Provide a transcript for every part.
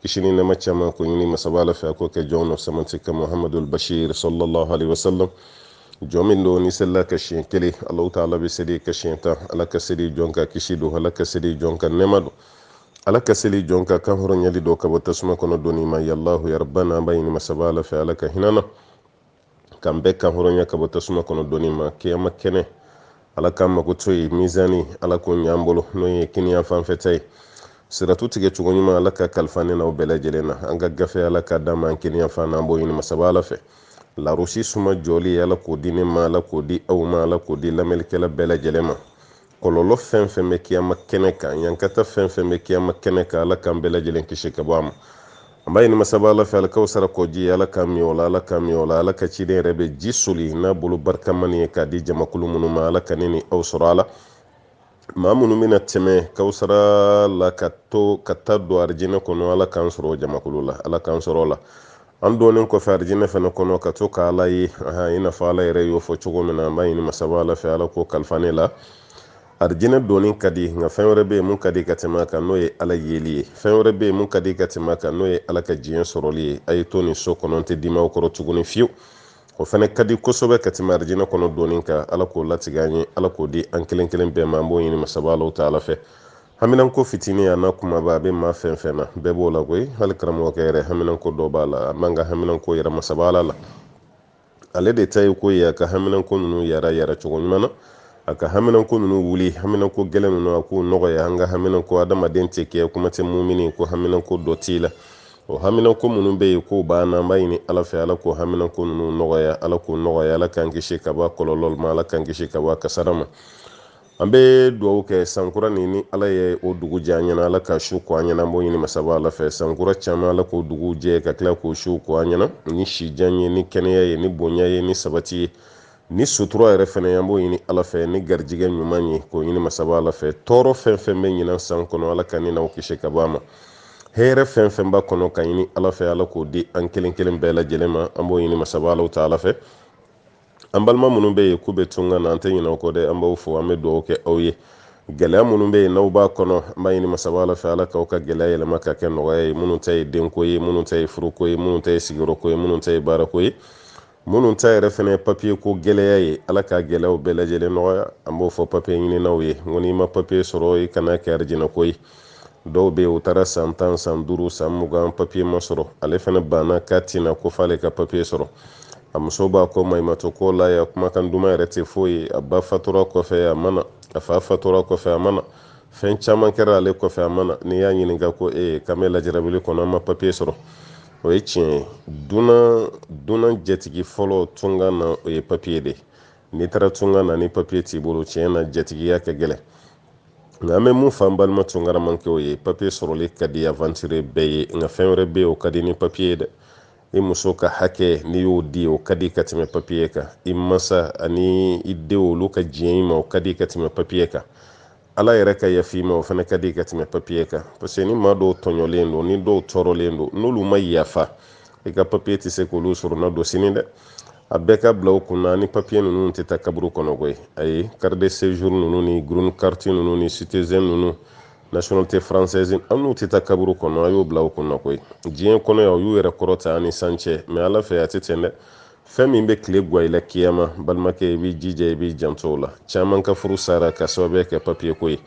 kisi ni nɛɛma caman k'o ɲini masaba ala fɛ a k'o kɛ jɔn nɔ samati ka muhamadul bashir sallallahu alaihi wasallam jɔn min don n'i selila a kan siɲɛ kelen alahu taala bɛ seli i kan siɲɛ tan ala ka seli jɔn kan kisi don ala ka seli jɔn kan nɛɛma don ala ka seli jɔn kan kan hɔrɔnyali don ka bɔ tasuma kɔnɔ donni ma yalahu yarabana an b'a ɲini masaba ala fɛ ala ka hinɛ an na k'an bɛɛ kan hɔrɔnya ka bɔ tasuma kɔnɔ donni ma kiyama kɛnɛ ala k'an makoto yen mizani ala k'o ɲ'an bolo n'o ye kiniya fanfɛ ta ye siratu tigɛ cogo ɲuman ala k'a kalifa ne n'aw bɛɛ lajɛlen na an ka gafe ala k'a d'an ma an kiniya fan na an b'o ɲini masaba ala fɛ larosi suma jɔli ala k'o di ne ma ala k'o di aw ma ala k'o di lamɛnlikɛla bɛɛ lajɛlen ma kɔlɔlɔ fɛn fɛn bɛ kiyama kɛnɛ kan ɲankata fɛn fɛn bɛ kiyama kɛnɛ kan ala k'an bɛɛ lajɛlen kisi ka bɔ a ma an b'a ɲini masaba ala fɛ alikawusara kɔji ala k'an min o la ala k'an min o la ala ka ciden yɛrɛ bɛ ji soli n'a bolo barikama nin ye k'a di jamakulu minnu ma ala ka ne ni aw sɔrɔ a la maa minnu bɛna tɛmɛ kawusara la ka to ka taa don arijinɛ kɔnɔ ala k'an sɔrɔ o jamakulu la ala k'an sɔrɔ o la an donnen kɔfɛ arijinɛ fana kɔnɔ ka to ka ala ye i n'a fɔ ala yɛrɛ y'o fɔ cogo min na an b'a ɲini masaba ala fɛ ala k'o kalifa ne la arijinɛ donni ka di nka fɛn wɛrɛ bɛ yen mun ka di ka tɛmɛ a kan n'o ye ala yeli ye fɛn wɛrɛ bɛ yen mun ka di ka tɛmɛ a kan n'o ye ala ka diɲɛ sɔrɔli ye a ye to nin so kɔnɔ n tɛ dimi aw kɔrɔ tuguni fiyewu o fana ka di kosɛbɛ ka tɛmɛ arijinɛ kɔnɔ donni kan ala k'o latigɛ an ye ala k'o di an kelen kelen bɛɛ ma an b'o ɲini masaba ala taala fɛ haminanko fitini a n'a kumaba a bɛ maa fɛn fɛn na bɛɛ b'o la koyi hali karamɔgɔkɛ yɛrɛ haminanko dɔ b'a la an b'an ka haminanko yira masaba ala la ale de ta ye ko ye a ka haminanko ninnu yara yara cogo ɲuman na a ka haminanko ninnu wuli haminanko gɛlɛn ninnu a k'u nɔgɔya an ka haminanko adamaden tɛ kɛ kuma tɛ mumini ko haminanko dɔ t'i la o haminanko minnu bɛ yen k'u b'an na an b'a ɲini ala fɛ ala k'o haminanko ninnu nɔgɔya ala k'o nɔgɔya ala k'an kisi ka bɔ a kɔlɔlɔ ma ala k'an kisi ka bɔ a kasara ma an bɛ dugawu kɛ sankura nin ni ala ye o dugu jɛ an ɲɛna ala k'a su ko an ɲɛna an b'o ɲini masaba ala fɛ sankura caman ala k'o dugu jɛ ka tila k'o su ko an ɲɛna ni sijan ye ni kɛnɛya ye ni bonya ye ni sabati ye ni sutura yɛrɛ fana an b'o ɲini ala fɛ ni garijɛgɛ ɲuman ye k'o ɲini masaba ala fɛ tɔɔrɔ fɛn fɛn bɛ ɲinan san kɔnɔ ala ka ne n'aw kisi ka bɔ a ma hɛrɛ fɛn fɛn b'a kɔnɔ k'a ɲini ala fɛ ala k'o di an kelen kelen bɛɛ lajɛlen ma an b'o ɲini masaba ala taala fɛ an balima minnu bɛ yen k'u bɛ tunga na an tɛ ɲinɛ u kɔ dɛ an b'aw fo an bɛ dugawu kɛ aw ye gɛlɛya minnu bɛ yen n'aw b'a kɔnɔ an b'a ɲini masaba ala fɛ ala k'aw ka gɛlɛya yɛlɛma ka kɛ nɔgɔya ye minnu ta ye denko ye minnu ta ye furuko ye minnu ta ye sigiyɔrɔko ye minnu ta ye baarako ye minnu ta yɛrɛ fana ye papiye ko gɛlɛya ye ala ka gɛlɛyaw bɛɛ lajɛlen nɔgɔya an b'o fɔ papiye ɲininaw ye n ko n'i ma papiye sɔrɔ i kan'a kɛ arijinako ye dɔw bɛ yen u taara san tan san duuru san mugan papiye ma sɔrɔ ale fana banna k'a tɛ na ko f'ale ka papiye sɔrɔ a muso b'a kɔ maɲumatɔ ko la yan kumakan duman yɛrɛ tɛ foyi ye a ba fatura kɔfɛ a ma na a fa fatura kɔfɛ a ma na fɛn caman kɛra ale kɔfɛ a ma na n'i y'a ɲininka ko e ye k'an bɛ lajɛrabili kɔnɔ an ma papiye sɔrɔ o ye tiɲɛ ye dunan dunan jatigi fɔlɔ tunga na o ye papiye de ye n'i taara tunga na ni papiye t'i bolo tiɲɛ na jatigiya ka gɛlɛn nka an bɛ mun fɔ an balima tungaramakɛw ye papiye sɔrɔli ka di aventurier bɛɛ ye nka fɛn wɛrɛ bɛ yen o ka di ni papiye ye dɛ i muso ka hakɛ n'i y'o di o ka di ka tɛmɛ papiye kan i masaw ani i denw olu ka diɲɛ i ma o ka di ka tɛmɛ papiye kan ala yɛrɛ ka yafa i ma o fana ka di ka tɛmɛ papiye kan parce que ni maa dɔw tɔɲɔlen don ni dɔw tɔɔrɔlen don n'olu ma yafa i ka papiye tɛ se k'olu soronadon sini dɛ a bɛɛ k'a bila aw kunna ni papiye ninnu tɛ taa kaburu kɔnɔ koyi ayi carte de séjour ninnu ni green carte ninnu ni citizen ninnu nationalité française an n'u tɛ taa kaburu kɔnɔ a y'o bila aw kunna koyi diɲɛ kɔnɔ yan u y'u yɛrɛ kɔrɔta ani san cɛ mɛ ala fɛ a tɛ ten dɛ fɛn min bɛ tile gwan i la kiyama balimakɛ i b'i jija i b'i janto o la caman ka furu sara ka sababuya kɛ papiye ko ye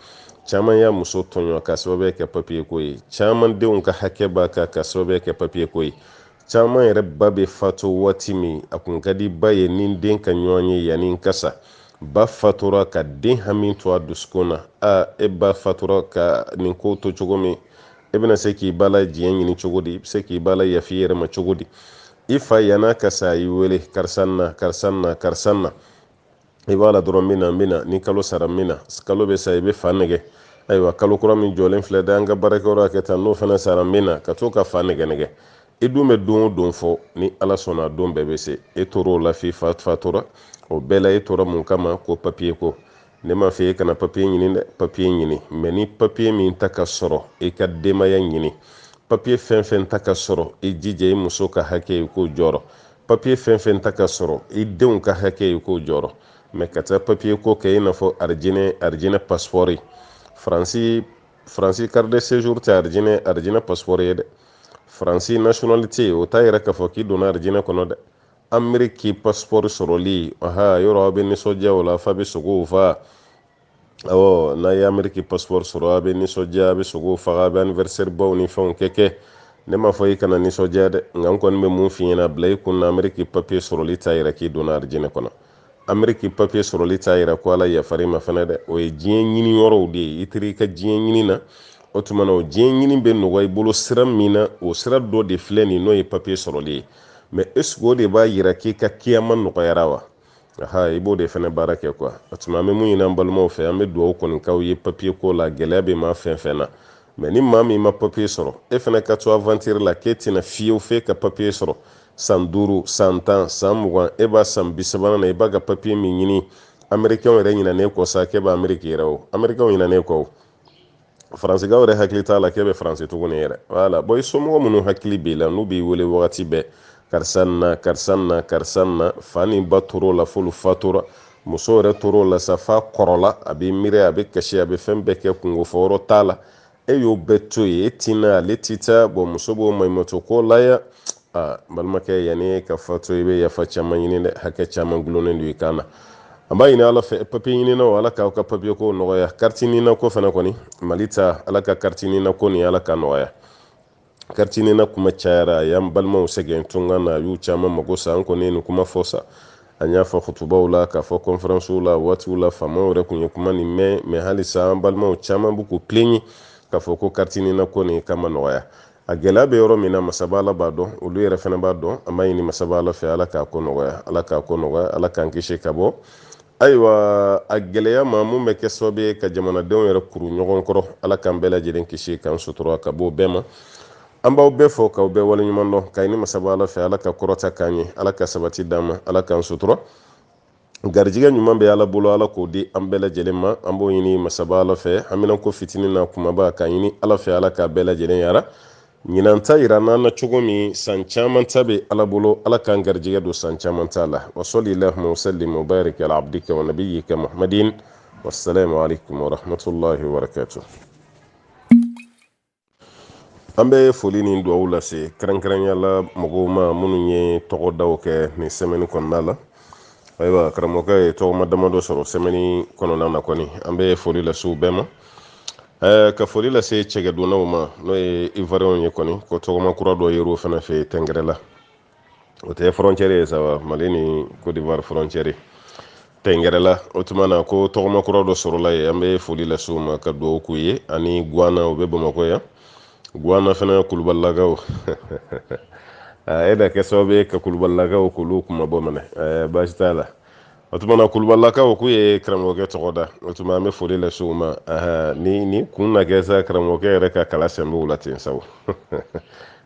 caman y'a muso tɔɲɔ ka sababuya kɛ papiye ko ye caman denw ka hakɛ b'a kan ka sababuya kɛ papiye ko ye caman yɛrɛ ba bɛ fatu waati min a kun ka di ba ye ni den ka ɲɔgɔn ye yann'a ka sa ba fatura ka den hami to a dusukun na a e ba fatura ka nin ko to cogo min e bɛna se k'i ba la diɲɛ ɲini cogo di i bɛ se k'i ba layaf'i yɛrɛ ma cogo di i fa yann'a ka sa i wele karisa na karisa na karisa na i b'a la dɔrɔn n bɛ na n bɛ na ni kalo sara n bɛ na kalo bɛ sa i bɛ fa nɛgɛ ayiwa kalo kura min jɔlen filɛ dɛ an ka baarakɛyɔrɔ kɛ tan n'o fana sara n bɛ na ka to ka fa nɛgɛ nɛgɛ i dun bɛ don o don fɔ ni ala sɔnna don bɛɛ bɛ se e tor'o la f'i fa fatura o bɛɛ la e tora mun kama ko papiye ko ne m'a fɔ e kana papiye ɲini dɛ papiye ɲini mɛ ni papiye min ta ka sɔrɔ i e ka denbaya ɲini papiye fɛn fɛn ta ka sɔrɔ i e jija i e muso ka hakɛ i k'o jɔrɔ papiye fɛn fɛn ta ka sɔrɔ i denw ka hakɛ i k'o jɔrɔ mɛ ka taa papiye ko kɛ i n'a fɔ arijinɛ arijinɛ pasipɔri faransi faransi carte de séjour tɛ arijinɛ arijinɛ pasipɔri ye dɛ faransi nationalité o t'a yira k'a fɔ k'i donna arijinɛ kɔnɔ dɛ ameriki pasipɔri sɔrɔli aha yɔrɔ aw bɛ nisɔndiya o la f'a bɛ sogow fa awɔ n'a ye ameriki pasipɔri sɔrɔ a bɛ nisɔndiya a bɛ sogo faga a bɛ anniversaire baw ni fɛnw kɛ kɛ ne m'a fɔ i kana nisɔndiya dɛ nka n kɔni bɛ mun f'i ɲɛna bila i kun na ameriki papiye sɔrɔli t'a yira k'i donna arijinɛ kɔnɔ ameriki papiye sɔrɔli t'a yira ko ala yafar'i ma fana dɛ o ye diɲɛ ɲini yɔrɔw de ye i teri i ka diɲɛ ɲini na o tuma na o diɲɛ ɲini bɛ nɔgɔya i bolo sira min na o sira dɔ de filɛ nin n'o ye papiye sɔrɔli ye mɛ esiko o de b'a yira k'i ka kiyama nɔgɔyara wa aha i b'o de fɛnɛ baara kɛ kuwa o tuma an bɛ mun ɲini an balimaw fɛ an bɛ dugawu kɔni k'aw ye papiye ko la gɛlɛya bɛ maa fɛn fɛn na mɛ ni maa min ma papiye sɔrɔ e fɛnɛ ka to avantiri la k'e tɛ na fewu f'e ka papiye sɔrɔ san duuru san tan san mugan e b'a san bi sabanan na i b'a ka papiye min ɲini amerikɛnw yɛrɛ ɲinan'e kɔ sa k'e bɛ ameriki yɛrɛ o amerikɛnw ɲinan'e kɔ o faransikaw yɛrɛ hakili t'a la k'e bɛ faransi tuguni yɛrɛ wala bɔn i somɔgɔ minnu hakili b'i la n'u b'i wele wagati bɛɛ karisa na karisa na karisa na fa ni ba tor'o la f'olu fatura muso yɛrɛ tor'o la sa f'a kɔrɔla a b'i miiri a bɛ kasi a bɛ fɛn bɛɛ kɛ kunko fɔ yɔrɔ t'a la e y'o bɛɛ to yen e ti na ale ti taa bɔn muso b'o maɲumatɔ ko la yan aa balimakɛ yanni ka fatu i bɛ yafa caman ɲini dɛ hakɛ caman dulonnen don i kan na an b'a ɲini ala fɛ papiye ɲininaw ala k'aw ka papiye ko nɔgɔya kariti nina ko fana kɔni mali ta ala ka kariti nina ko nin ala ka nɔgɔya kariti nina kuma cayara a y'an balimaw sɛgɛn tunga na a y'u caman mago sa an kɔni ye nin kuma fɔ sa an y'a fɔ kutubaw la k'a fɔ kɔnferansiw la waatiw la faamaw yɛrɛ tun ye kuma nin mɛn mɛ halisa an balimaw caman b'u k'u pilɛɲe k'a fɔ ko kariti nina ko nin k'a ma nɔgɔya a gɛlɛya bɛ yɔrɔ min na masaba ala b'a dɔn olu yɛrɛ fana b'a dɔn an b'a ɲini masaba ala fɛ ala k'a ko nɔgɔya ala k'a ko nɔgɔya ala k'an kisi ka bɔ ayiwa a gɛlɛya ma mun bɛ kɛ sababu ye ka jamanadenw yɛrɛ kuru ɲɔgɔn kɔrɔ ala k'an bɛɛ lajɛlen kisi k'an sutura ka bɔ bɛɛ ma an b'aw bɛɛ fo k'aw bɛɛ waleɲuman dɔn k'a ɲini masaba ala fɛ ala ka kɔrɔta k'an ye ala ka sabati d'an ma ala k'an sutura garijɛgɛ ɲuman bɛ ala bolo ala k'o di an bɛɛ lajɛlen ma an b'o ɲini masaba ala fɛ hamina ko fitinin n'a kumaba k'a ɲini ala fɛ ala k'a bɛɛ lajɛlen yara ɲinan ta yiral'an na cogo min san caman ta bɛ ala bolo ala k'an garijɛgɛ don san caman ta la wa salli allahumma wa sallim wa barik ala abdika wa nabiyyika muhammadin wassalamu alaikum warahmatullahi wabarakatuh an bɛ foli ni dugawu lase kɛrɛnkɛrɛnya la mɔgɔw ma minnu ye tɔgɔdaw kɛ nin sɛmɛni kɔnɔna la ayiwa karamɔgɔkɛ ye tɔgɔma damadɔ sɔrɔ sɛmɛni kɔnɔna na kɔni an bɛ foli lase u bɛɛ ma ɛɛ ka foli lase cɛgɛdunnaw ma n'o ye ivariyɛnw ye kɔni ko tɔgɔma kura dɔ yer'o fana fɛ yen tɛngɛrɛla o tɛ frontière ye sa wa mali ni côte d'ivoire frontière ye tɛngɛrɛla o tuma na ko tɔgɔma kura dɔ sɔrɔla yen an bɛ foli lase u ma ka dugawu k'u ye ani guana o bɛ bamakɔ yan guana fana kulubalilakaw e na kɛ sababu ye ka kulubalilakaw k'olu kuma bɔ minɛ baasi t'a la o tuma na kulubalakaw k'u ye karamɔgɔkɛ tɔgɔ da o tuma an bɛ foli lase u ma ni nin kun na kɛ sa karamɔgɔkɛ yɛrɛ ka kala sɛnbɛw la ten sabu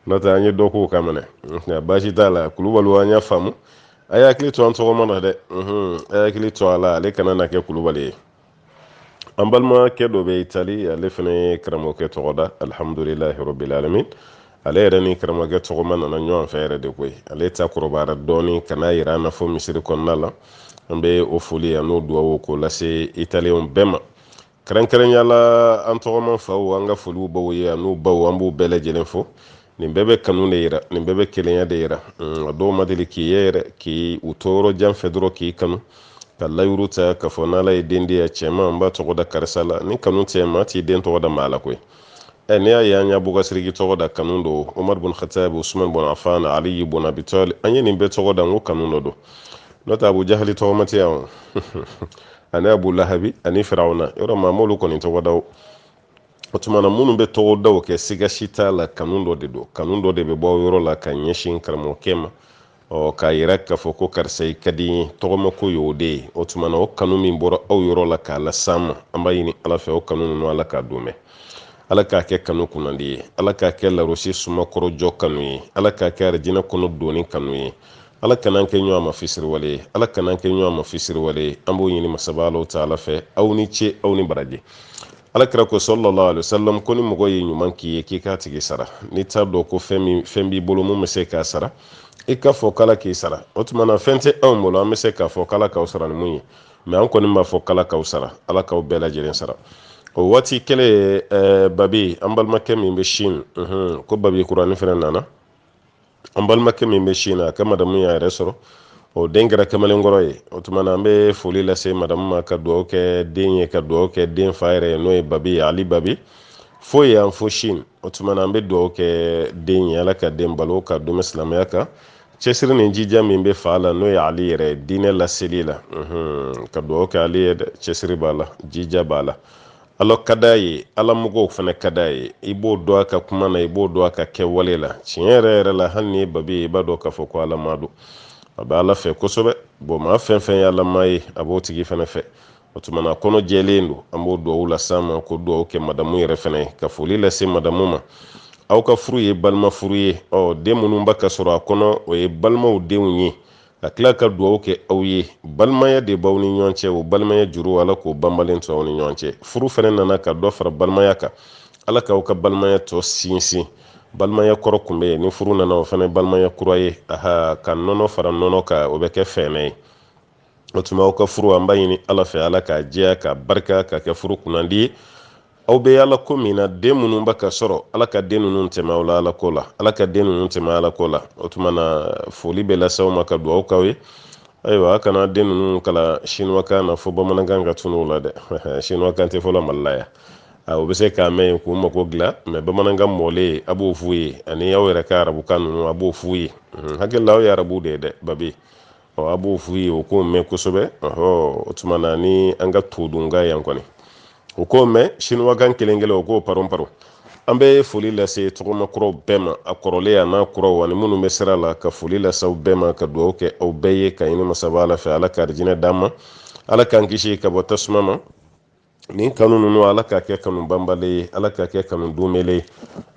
n'o tɛ an ye dɔ k'o kan minɛ nka baasi t'a la kulubaliw an y'a faamu a y'a hakili to an tɔgɔma na dɛ a y'a hakili to a la ale kana na kɛ kulubali ye an balimakɛ dɔ bɛ itali ale fana ye karamɔgɔkɛ tɔgɔ da alihamudulilahi rabbil alamin ale yɛrɛ ni karamɔgɔkɛ tɔgɔma nana ɲɔgɔn fɛ yɛrɛ de koyi ale ta kɔrɔbayara dɔɔni ka n'a yira an na fo misiri kɔnɔna la an bɛ o foli an'o duwawu k'o lase italiyɛnw bɛɛ ma kɛrɛnkɛrɛnya la an tɔgɔma faw an ka foli b'aw ye an'u baw an b'u bɛɛ lajɛlen fo nin bɛɛ bɛ kanu de yira nin bɛɛ bɛ kelenya de yira nka dɔw ma deli k'i ye yɛrɛ k'i u to yɔrɔ jan fɛ dɔrɔn k'i kanu ka layiru ta k'a fɔ n'ala ye den di yan cɛman n b'a tɔgɔ da karisa la ni kanu tɛ maa t'i den tɔgɔ da maa la koyi ɛ n'i y'a ye an y'abubakari siriki tɔgɔ da kanu don umaru bun khatab usman bun afan aliyi bun abi talib an ye nin bɛɛ tɔgɔ da n ko kanu dɔ don n'o tɛ abu jahali tɔgɔma tɛ yan o ani abu lahabi ani firawuna yɔrɔ maa m'olu kɔni tɔgɔ da o o tuma na minnu bɛ tɔgɔ daw kɛ siga si t'a la kanu dɔ de don kanu dɔ de bɛ bɔ yɔrɔ la ka ɲɛsin karamɔgɔkɛ ma ɔ k'a yira k'a fɔ ko karisa i ka di n ye tɔgɔmako ye o de ye o tuma na o kanu min bɔra aw yɔrɔ la k'a las'an ma an b'a ɲini ala fɛ o kanu ninnu ala k'a don mɛn ala k'a kɛ kanu kunnandi ye ala k'a kɛ larasi suma kɔrɔ jɔ kanu ye ala k'a kɛ arijinɛ kɔnɔ donni kanu ye ala kan'an kɛ ɲɔgɔn ma fisiriwale ye ala kan'an kɛ ɲɔgɔn ma fisiriwale ye an b'o ɲini masaba alahu taala fɛ aw ni ce aw ni baraji ala kira ko salalahu alayhi wasalam ko ni mɔgɔ ye ɲuman k'i ye k'i k'a tigi sara n'i t'a dɔn ko fɛn min fɛn b'i bolo min bɛ se k'a sara i k'a fɔ k'ala k'i sara o tuma na fɛn tɛ anw bolo an bɛ se k'a fɔ k'ala k'aw sara ni mun ye mɛ an kɔni b'a fɔ k'ala k'aw sara ala k'aw bɛɛ lajɛlen sara o waati kelen ye eh, babi an balimakɛ min bɛ sin ko babi kuranin fana nana an balimakɛ min bɛ sin na a ka madamu y'a yɛrɛ sɔrɔ o den kɛra kamalenkɔrɔ ye o tuma na an bɛ foli lase madamu ma ka dugawu kɛ den ye ka dugawu kɛ den fa yɛrɛ ye n'o ye babi ye ali babi fo yan fo sin o tuma na an bɛ dugawu kɛ den ye ala ka den balo k'a dɛmɛ silamɛya kan cɛsiri ni jija min bɛ fa la n'o ye ali yɛrɛ diinɛ laseli la ka dugawu kɛ ale ye cɛsiri b'a la jija b'a la Ala ka d'a ye ala mɔgɔw fana ka d'a ye i b'o dɔn a ka kuma na i b'o dɔn a ka kɛwale la tiɲɛ yɛrɛ yɛrɛ la hali n'i ye babi ye i b'a dɔn k'a fɔ ko alamaa don a bɛ ala fɛ kosɛbɛ bɔn maa fɛn fɛn ye alamaa ye a b'o tigi fana fɛ o tuma na kɔnɔ jɛlen don an b'o dugawu las'a ma ka dugawu kɛ madamu yɛrɛ fana ye ka foli lase madamu ma aw ka furu ye balima furu ye ɔ den minnu bɛ ka sɔrɔ a kɔnɔ o ye balimaw denw ye ka tila ka dugawu kɛ aw ye balimaya de b'aw ni ɲɔgɔn cɛ o balimaya juru ala k'o banbalen to aw ni ɲɔgɔn cɛ furu fana nana ka dɔ fara balimaya kan ala k'aw ka balimaya tɔ sinsin balimaya kɔrɔ kun bɛ yen ni furu nana o fana balimaya kura ye aha ka nɔnɔ fara nɔnɔ kan o bɛ kɛ fɛnɛ ye o tuma aw ka furu an b'a ɲini ala fɛ ala k'a jɛya k'a barika k'a kɛ furu kunnandi ye aw bɛ ala ko min na den minnu bɛ ka sɔrɔ ala ka den ninnu tɛmɛ aw la ala ko la ala ka den ninnu tɛmɛ ala ko la o tuma na foli bɛ lase aw ma ka dugawu k'aw ye ayiwa a kana den ninnu kalan siniwakan na fo bamanankan ka tunun la dɛ siniwakan tɛ fɔlɔ mali la yan u bɛ se k'a mɛn yen k'u mago dilan mɛ bamanankan mɔlen a b'o f'u ye ani aw yɛrɛ ka arabukan ninnu a b'o f'u ye hakili la aw ye arabu de ye dɛ babi ɔ a b'o f'u ye o k'o mɛn kosɛbɛ ɔhɔ o tuma na ni an ka todunkan yan kɔni o k'o mɛn siniwakan kelen kelen o k'o paron paron an bɛ foli lase tɔgɔma kuraw bɛɛ ma a kɔrɔlen an'a kuraw ani minnu bɛ sira la ka foli lase aw bɛɛ ma ka dugawu kɛ aw bɛɛ ye ka ɲini masaba ala fɛ ala ka arijinɛ d'an ma ala k'an kisi ka bɔ tasuma ma nin kanu ninnu ala k'a kɛ kanu banbalen ye ala k'a kɛ kanu donbele ye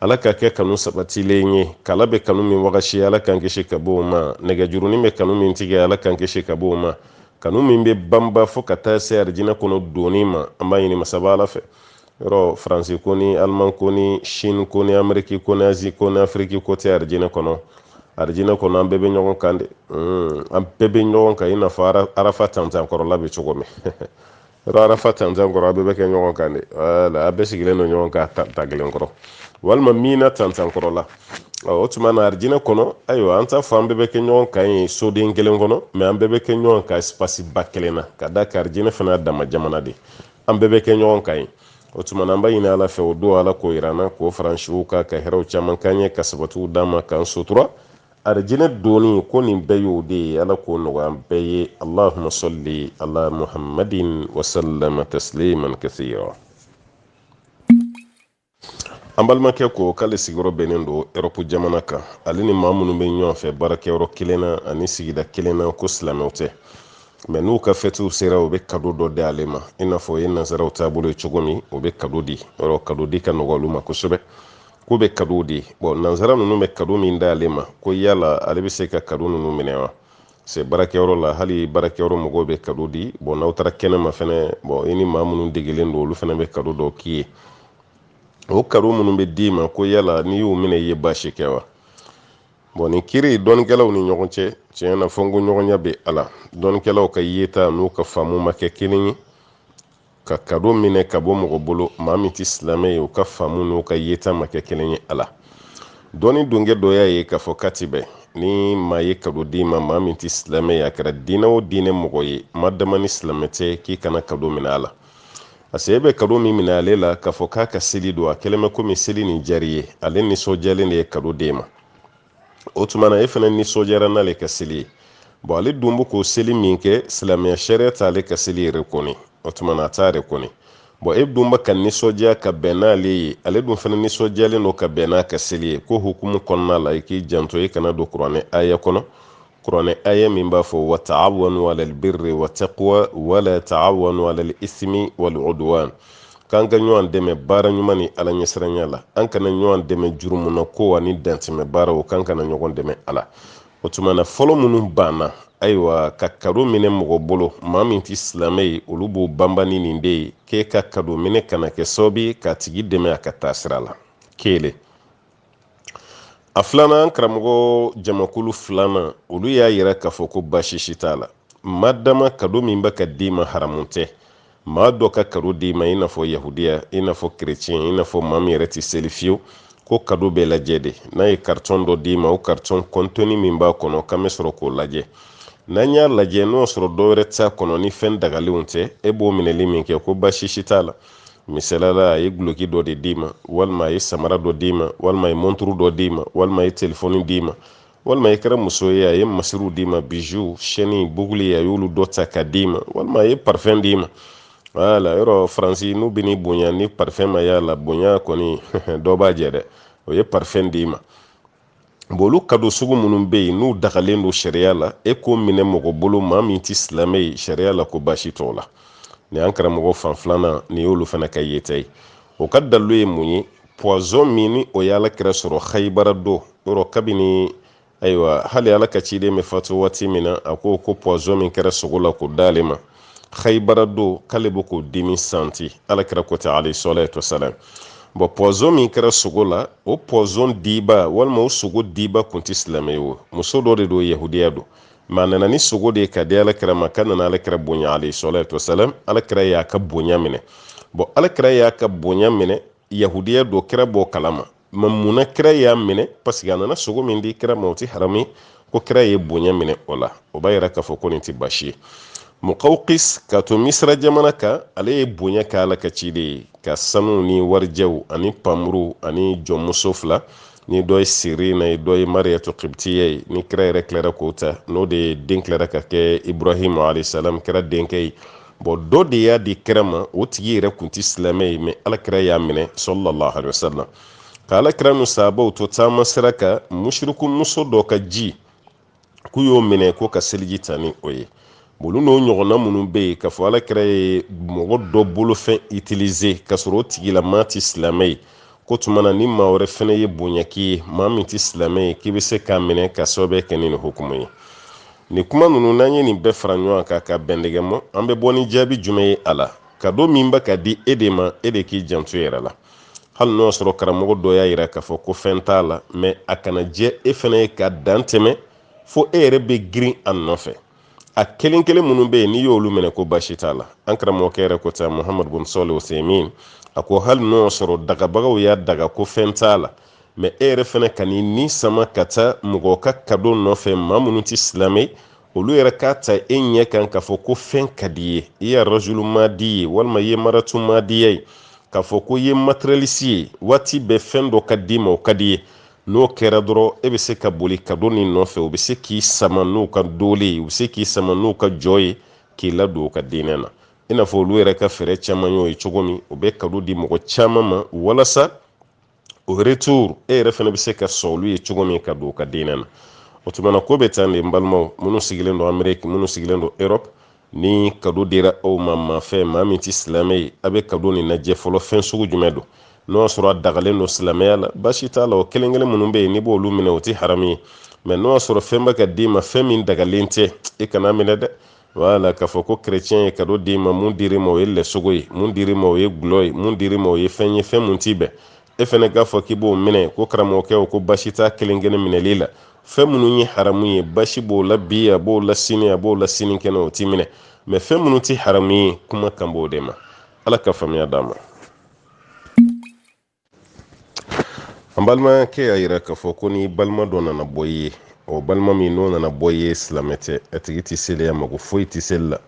ala k'a kɛ kanu sabatilen ye kala bɛ kanu min wagasi ala k'an kisi ka bɔ o ma nɛgɛjurunin bɛ kanu min tigɛ ala k'an kisi ka bɔ o ma kanu min bɛ banba fo ka taa se arijinɛ kɔnɔ donni ma an b'a ɲini masaba ala fɛ yɔrɔ faransi ko ni aliman ko ni sini ko ni ameriki ko ni azi ko ni afiriki ko tɛ arijinɛ kɔnɔ arijinɛ kɔnɔ an bɛɛ bɛ ɲɔgɔn kan de hmm, an bɛɛ bɛ ɲɔgɔn kan i n'a fɔ arafa tanti kɔrɔla bɛ cogo min yɔrɔ arafa tanti kɔrɔ a bɛɛ bɛ kɛ ɲɔgɔn kan de wala a bɛɛ sigilen don ɲɔgɔn kan tanti kelen kɔrɔ walima mina tanti kɔrɔ la o tuma na arijinɛ kɔnɔ ayiwa an t'a fɔ an bɛɛ bɛ kɛ ɲɔgɔn kan yen soden kelen kɔnɔ mɛ an bɛɛ bɛ kɛ ɲɔgɔn kan ɛsipasiba kelen na ka d'a kan arijinɛ fana dama jamana de an bɛɛ bɛ kɛ ɲɔgɔn kan yen o tuma na an b'a ɲini ala fɛ o don ala k'o yir'an na k'o far'an siw kan ka hɛrɛw caman k'an ye ka sabatiw d'an ma k'an sutura arijinɛ donni ko nin bɛɛ y'o de ye ala k'o nɔgɔya an bɛɛ ye allahumma salli ala muhammadin wasallama tasliman kasira an balimakɛ ko k'ale sigiyɔrɔ bɛnnen don erɔpu jamana kan ale ni maa minnu bɛ ɲɔgɔn fɛ baarakɛyɔrɔ kelen na ani sigida kelen na ko silamɛw tɛ mɛ n'u ka fɛtiw sera u bɛ kado dɔ di ale ma i n'a fɔ o ye nansaraw taabolo ye cogo min u bɛ kado di yɔrɔ kado di ka nɔgɔn olu ma kosɛbɛ k'u bɛ kado di bɔn nansara ninnu bɛ kado min d'ale ma ko yala ale bɛ se ka kado ninnu minɛ wa se baarakɛyɔrɔ la hali baarakɛyɔrɔ mɔgɔw bɛ kado di bɔn n'aw taara kɛnɛma fɛnɛ bɔn i ni maa minnu degelen don olu fɛnɛ bɛ kado dɔ k'i ye o kado minnu bɛ d'i ma ko yala n'i y'u minɛ i ye baasi kɛ wa bɔn nin kiri dɔnnikɛlaw ni ɲɔgɔn cɛ tiɲɛ na fɔnkɔɲɔgɔnya bɛ a la dɔnnikɛlaw ka yeta n'u ka faamu ma kɛ kelen ye ka kado minɛ ka bɔ mɔgɔ bolo maa min tɛ silamɛ ye u ka faamu n'u ka yeta ma kɛ kelen ye a la dɔnni dɔnkɛ dɔ y'a ye k'a fɔ k'a tɛ bɛn ni maa ye kado d'i ma maa min tɛ silamɛ ye a kɛra diinɛ o diinɛ mɔgɔ ye ma dama ni silamɛ tɛ k'i kana kado minɛ a la parce que e bɛ kado min minɛ ale la k'a fɔ k'a ka seli don a kɛlen bɛ komi seli nin diyar'i ye ale nisɔndiyalen de ye kado d'e ma o tuma na e fana nisɔndiyara n'ale ka seli ye bɔn ale dun bɛ k'o seli min kɛ silamɛya sariya t'ale ka seli rekɔni o tuma na a t'a rekɔni bɔn e dun bɛ ka nisɔndiya ka bɛn n'ale ye ale dun fana nisɔndiyalen don ka bɛn n'a ka seli ye k'o hukumu kɔnɔna la i k'i janto e kana don kuranɛ aya kɔnɔ kuranɛ aya min b'a fɔ wa taawanu alal birri wa taqwa wala taawanu alal ismi wal udwan k'an ka ɲɔgɔn dɛmɛ baara ɲuman ni ala ɲɛsiranya la an kana ɲɔgɔn dɛmɛ jurumunakow ani dantɛmɛ baaraw k'an kana ɲɔgɔn dɛmɛ a la o tuma na fɔlɔ minnu banna ayiwa ka kado minɛ mɔgɔ bolo maa min tɛ silamɛ ye olu b'o banban ni nin de ye k'e ka kado minɛ kana kɛ sababu ye k'a tigi dɛmɛ a ka taasira la kelen a filanan karamɔgɔ jamakulu filanan olu y'a yira k'a fɔ ko baasi si t'a la ma dama kado min bɛ ka d'i ma haramu tɛ maa dɔ ka kado d'i ma i n'a fɔ yahudiya i n'a fɔ kerecɛn i n'a fɔ maa min yɛrɛ tɛ seli fiyewu ko kado bɛ lajɛ de n'a ye karitɔn dɔ d'i ma o karitɔn kɔntɔni min b'a kɔnɔ k'an bɛ sɔrɔ k'o lajɛ n'an y'a lajɛ n'o sɔrɔ dɔwɛrɛ t'a kɔnɔ ni fɛn dagalenw tɛ e b'o minɛli min kɛ ko baasi si t'a la misalala a ye guloki dɔ de d'i ma walima a ye samara dɔ d'i ma walima a ye monturu dɔ d'i ma walima a ye telefɔni d'i ma walima i kɛra muso ye a ye masiriw d'i ma bijoux shɛni buguli a y'olu dɔ ta ka d'i ma walima a ye parfɛn d'i ma wala yɔrɔ faransi n'u bɛ n'i bonya ni parfɛn ma y'a la bonya kɔni dɔ b'a jɛ dɛ o ye parfɛn d'i ma bon olu kado sugu minnu bɛ yen n'u dagalen don sariya la e k'o minɛ mɔgɔ bolo maa min tɛ silamɛ ye sariya la ko baasi t'o la nin y'an karamɔgɔ fan filanan nin y'olu fana ka yeta ye o ka dalilu ye mun ye pɔzɔn min ni o ye ala kira sɔrɔ hayibara don yɔrɔ kabini ayiwa hali ala ka ciden bɛ fatu waati min na a ko ko pɔzɔn min kɛra sogo la k'o d'ale ma khaybara don k'ale bɛ k'o dimi santi alakira ko ten alayhi salatu wasalam bɔn pɔzɔn min kɛra sogo la o pɔzɔn diba walima o sogo diba kun tɛ silamɛ ye o muso dɔ de don yahudiya don mɛ a nana ni sogo de ye k'a di alakira ma k'a nana alakira bonya alayhi salatu wasalam alakira y'a ka bonya minɛ bɔn alakira y'a ka bonya minɛ yahudiya don kira b'o kalama mɛ munna kira y'a minɛ paseke a nana sogo min di kira ma o ti haramu ko kira ye bonya minɛ o la o b'a yira k'a fɔ ko nin ti baasi ye mukawkis ka to misira jamana kan ale ye bonya kɛ ala ka ciden ye ka sanu ni warijɛw ani panmuru ani jɔnmuso fila ni dɔ ye sirina ye dɔ ye mariyatu kibitiya ye ni kira yɛrɛ tilara k'o ta n'o de ye den tilara ka kɛ ibrahim alayhi salam kira denkɛ ye bɔn dɔ de y'a di kira ma o tigi yɛrɛ kun tɛ silamɛ ye mɛ alakira y'a minɛ salalahu alaihi wasallam ka alakira n'u sahabaw to taama sira kan musiriku muso dɔ ka ji k'u y'o minɛ ko ka seliji ta ni o ye olu n'o ɲɔgɔnna minnu bɛ yen k'a fɔ alakira ye mɔgɔ dɔ bolofɛn itilize k'a sɔrɔ o tigilamaa tɛ silamɛ ye k'o tuma na ni maa wɛrɛ fɛnɛ ye bonya k'i ye maa min tɛ silamɛ ye k'i bɛ se k'a minɛ ka sababu kɛ ni nin hukumu ye nin kuma ninnu n'an ye nin bɛɛ fara ɲɔgɔn kan ka bɛndɛgɛ mɔ an bɛ bɔ ni jaabi jumɛn ye a la kado min bɛ ka di e de ma e de k'i janto yɛrɛ la hali n'o sɔrɔ karamɔgɔ dɔ y'a yira k'a fɔ ko fɛn t'a la mɛ a kana diya e fɛnɛ ye ka dan tɛmɛ fo e yɛrɛ bɛ girin a nɔfɛ a kelen kelen minnu bɛ yen n'i y'olu minɛ ko baasi t'a la an karamɔgɔkɛ yɛrɛ ko ta muhammadu bin Salih Uthaymin a ko hali n'o sɔrɔ dagabagaw y'a daga ko fɛn t'a la mɛ e yɛrɛ fana kan'i ni sama ka taa mɔgɔ ka kado nɔfɛ maa minnu tɛ silamɛ ye olu yɛrɛ k'a ta e ɲɛ kan k'a fɔ ko fɛn ka d'i ye i ye rajulu madi ye walima i ye maratu madiya ye k'a fɔ ko i ye matérialiste ye waati bɛɛ fɛn dɔ ka d'i ma o ka d'i ye n'o kɛra dɔrɔn e bɛ se ka boli kado nin nɔfɛ u bɛ se k'i sama n'u ka doole ye u bɛ se k'i sama n'u ka jɔ ye k'i ladon u ka diinɛ na i n'a fɔ olu yɛrɛ ka fɛɛrɛ caman y'o ye cogo min u bɛ kado di mɔgɔ caman ma walasa au retour e yɛrɛ fana bɛ se ka sɔn olu ye cogo min ka don u ka diinɛ na o tumana ko bɛ tan de n balimaw minnu sigilen don Amérique minnu sigilen don Europe ni kado dira aw ma maa fɛ maa min tɛ silamɛ ye a bɛ kado nin lajɛ fɔlɔ fɛn sugu jumɛn don n'o y'a sɔrɔ a dagalen don silamɛya la baasi t'a la o kelen kelen minnu bɛ yen n'i b'olu minɛ o tɛ haramu ye mɛ n'o y'a sɔrɔ fɛn bɛ ka d'i ma fɛn min dagalen tɛ i kan'a minɛ dɛ wala k'a fɔ ko kerecɛn ye kado d'i ma mun dir'i ma o ye lɛsogo ye mun dir'i ma o ye gulɔ ye mun dir'i ma o ye fɛn ye fɛn mun ti bɛn e fana k'a fɔ k'i b'o minɛ ko karamɔgɔkɛ o ko baasi t'a kelen kelen minɛli la fɛn minnu ye haramu ye baasi b'o la bi a b'o la sini a b'o la sinikɛnɛ o ti minɛ mɛ fɛn minnu ti haramu ye kuma kan b'o de ma ala ka faamuya d'an ma an balimakɛ y'a yira k'a fɔ ko ni balima dɔ nana bɔ i ye o balima min n'o nana bɔ i ye silamɛ tɛ a tigi tɛ seli a mako foyi tɛ seli la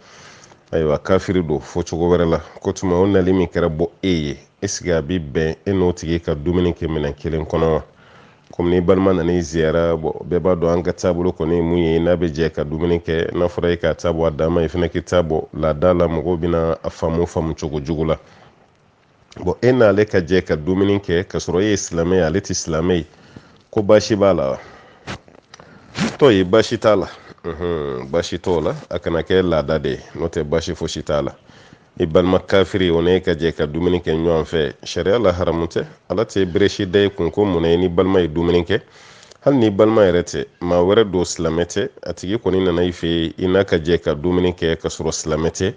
ayiwa kafiri don fɔ cogo wɛrɛ la k'o tuma o nali min kɛra bɔ e ye est-ce que a bi bɛn e n'o tigi ka dumuni kɛ minɛn kelen kɔnɔ wa komi ni balima nana i ziyara bɛɛ b'a dɔn an ka taabolo kɔni ye mun ye n'an bɛ jɛ ka dumuni kɛ n'a fɔra e k'a ta bɔ a dan ma i fana k'i ta bɔ laada la mɔgɔw bɛna a faamu faamu cogo jugu la bon e n'ale ka jɛ ka dumuni kɛ k'a sɔrɔ e ye silamɛ ye ale tɛ silamɛ ye ko baasi b'a la wa tɔ ye baasi t'a la baasi t'o la a kana kɛ laada de ye n'o tɛ baasi fosi t'a la i balima kafiri o n'e ka jɛ ka dumuni kɛ ɲɔgɔn fɛ sariya la haramu tɛ ala tɛ bere si da i kun ko mun e n'i balima ye dumuni kɛ hali n'i balima yɛrɛ tɛ maa wɛrɛ don silamɛ tɛ a tigi kɔni nana i fɛ yen i n'a ka jɛ ka dumuni kɛ ka sɔrɔ silamɛ tɛ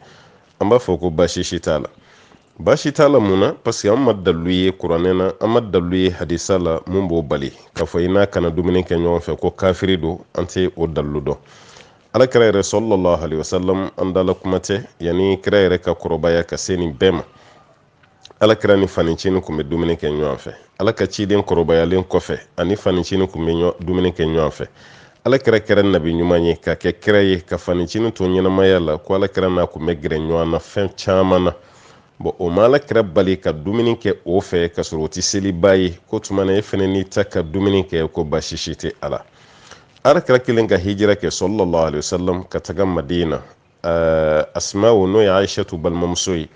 an b'a fɔ ko baasi si t'a la baasi t'a la mun na parce que an ma dalilu ye kuranɛ na an ma dalilu ye hadisa la mun b'o bali k'a fɔ i n'a kana dumuni kɛ ɲɔgɔn fɛ ko kafiri don an tɛ o dalilu dɔn ala kira yɛrɛ sallallahu alaihi wasallam an dala kuma tɛ yanni kira yɛrɛ ka kɔrɔbaya ka se nin bɛɛ ma ala kira ni fanicini kun bɛ dumuni kɛ ɲɔgɔn fɛ ala ka ciden kɔrɔbayalen kɔfɛ ani fanicini kun bɛ dumuni kɛ ɲɔgɔn fɛ ala kira kɛra nabi ɲuman ye ka kɛ kira ye ka fanicini to ɲɛnamaya la ko ala kira n'a kun bɛ gɛrɛ ɲɔgɔn na fɛn caman na bɔn o ma ala kira bali ka dumuni kɛ o fɛ ka sɔrɔ o tɛ selibaa ye ko tuma na e fɛnɛ n'i taa ka dumuni kɛ ko baasi si tɛ a la ala kira kɛlen ka hijira kɛ sallallahu alaihi wasallam ka taga madina eh, asmaw n'o ye aishatu balimamuso ye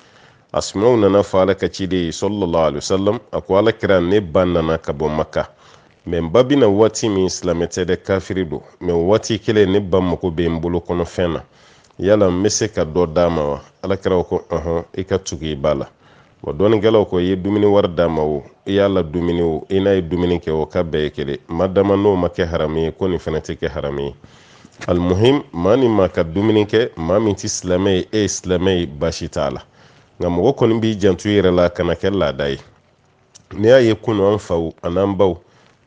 asmaw nana fɔ ala ka ciden ye sallallahu alaihi wasallam a ko ala kira ne ba nana ka bɔ maka mɛ n ba bɛ na waati min silamɛ tɛ dɛ kafiri don mɛ waati kelen ne ba mago bɛ n bolo kɔnɔfɛn na yala n bɛ se ka dɔ d'a ma wa ala kira ko ɔhɔn i ka tugu i ba la bɔn dɔnnikɛlaw ko i ye dumuni wari d'a ma o i y'a ladumuni o i n'a ye dumuni kɛ o k'a bɛɛ ye kelen madama n'o ma kɛ haramu ye ko nin fana tɛ kɛ haramu ye alimuhim maa ni maa ka dumuni kɛ maa min tɛ silamɛ ye e ye silamɛ ye baasi t'a la nka mɔgɔ kɔni b'i janto i yɛrɛ la kana kɛ laada ye n'i y'a ye kunu an faw an'an baw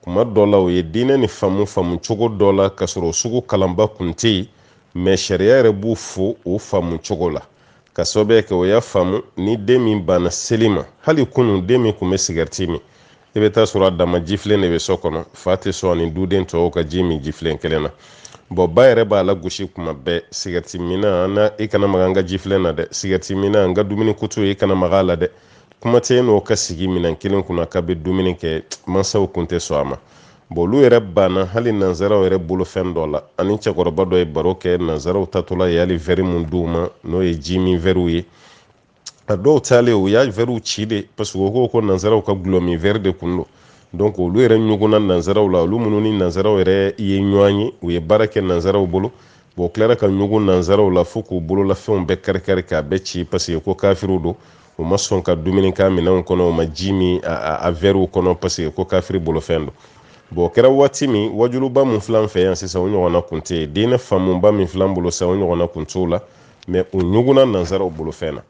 kuma dɔ la u ye diinɛ nin faamu faamu cogo dɔ la ka sɔrɔ o sugu kalanba kun tɛ yen mɛ sariya yɛrɛ b'u fo o faamu cogo la ka sababu kɛ u y'a faamu ni den min banna seli ma hali kunu den min kun bɛ sigɛriti min i bɛ taa sɔrɔ a dama jifilen de bɛ so kɔnɔ fa tɛ sɔn ani duden tɔw ka ji min jifilen kelen na bɔn ba yɛrɛ b'a lagosi kuma bɛɛ sigɛriti minna i kana maga an ka jifilen na dɛ sigɛriti minna an ka dumuni kutu i kana maga a la dɛ kuma tɛ n'o ka sigi minɛn kelen kunna k'a bɛ dumuni kɛ mansaw kun tɛ sɔn a ma bon olu yɛrɛ banna hali nanzaraw yɛrɛ bolo fɛn dɔ la ani cɛkɔrɔba dɔ ye baro kɛ nanzaraw taatɔla ye hali vɛri min d'u ma n'o ye ji min vɛriw ye a dɔw taalen u y'a vɛriw ci de parce que u ko ko nanzaraw ka gulɔ min vɛri de kun don donc olu yɛrɛ ɲugunna nanzaraw la olu minnu ni nanzaraw yɛrɛ ye ɲɔgɔn ye u ye baara kɛ nanzaraw bolo bon tilara ka ɲugun nanzaraw la fo k'u bololafɛnw bɛɛ karikari k'a bɛɛ ci parce que ko kafiriw don u ma sɔn ka dumuni k'a minɛnw kɔnɔ u ma ji min a vɛriw kɔnɔ paseke ko kafiri bolofɛn don bɔn o kɛra waati min wajuluba min filɛ an fɛ yan sisan o ɲɔgɔnna kun tɛ yen diinɛ faamuba min filɛ an bolo sisan o ɲɔgɔnna kun t'o la mɛ u ɲugunna nanzaraw bolofɛn na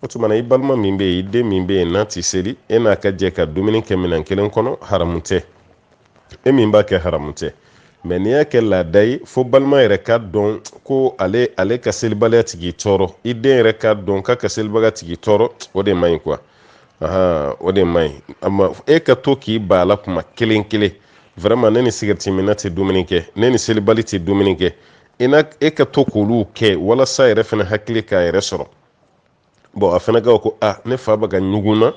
o tumana i balima min bɛ yen i den min bɛ yen n'a tɛ seli e n'a ka jɛ ka dumuni kɛ minɛn kelen kɔnɔ haramu tɛ e min b'a kɛ haramu tɛ mɛ n'i y'a kɛ laada ye fo balima yɛrɛ k'a dɔn ko ale ka selibaliya tɛ k'i tɔɔrɔ i den yɛrɛ k'a dɔn k'a ka selibaliya tɛ k'i tɔɔrɔ o de man ɲi kuwa o de man ɲi e ka to k'i ban a la kuma kelen kelen vraiment ne ni sigɛriti minna tɛ dumuni kɛ ne ni selibali tɛ dumuni kɛ i e ka to k'olu kɛ walasa a yɛrɛ fana hakili k'a yɛrɛ sɔrɔ bɔn a fana ka ko a ne fa bɛ ka ɲugun na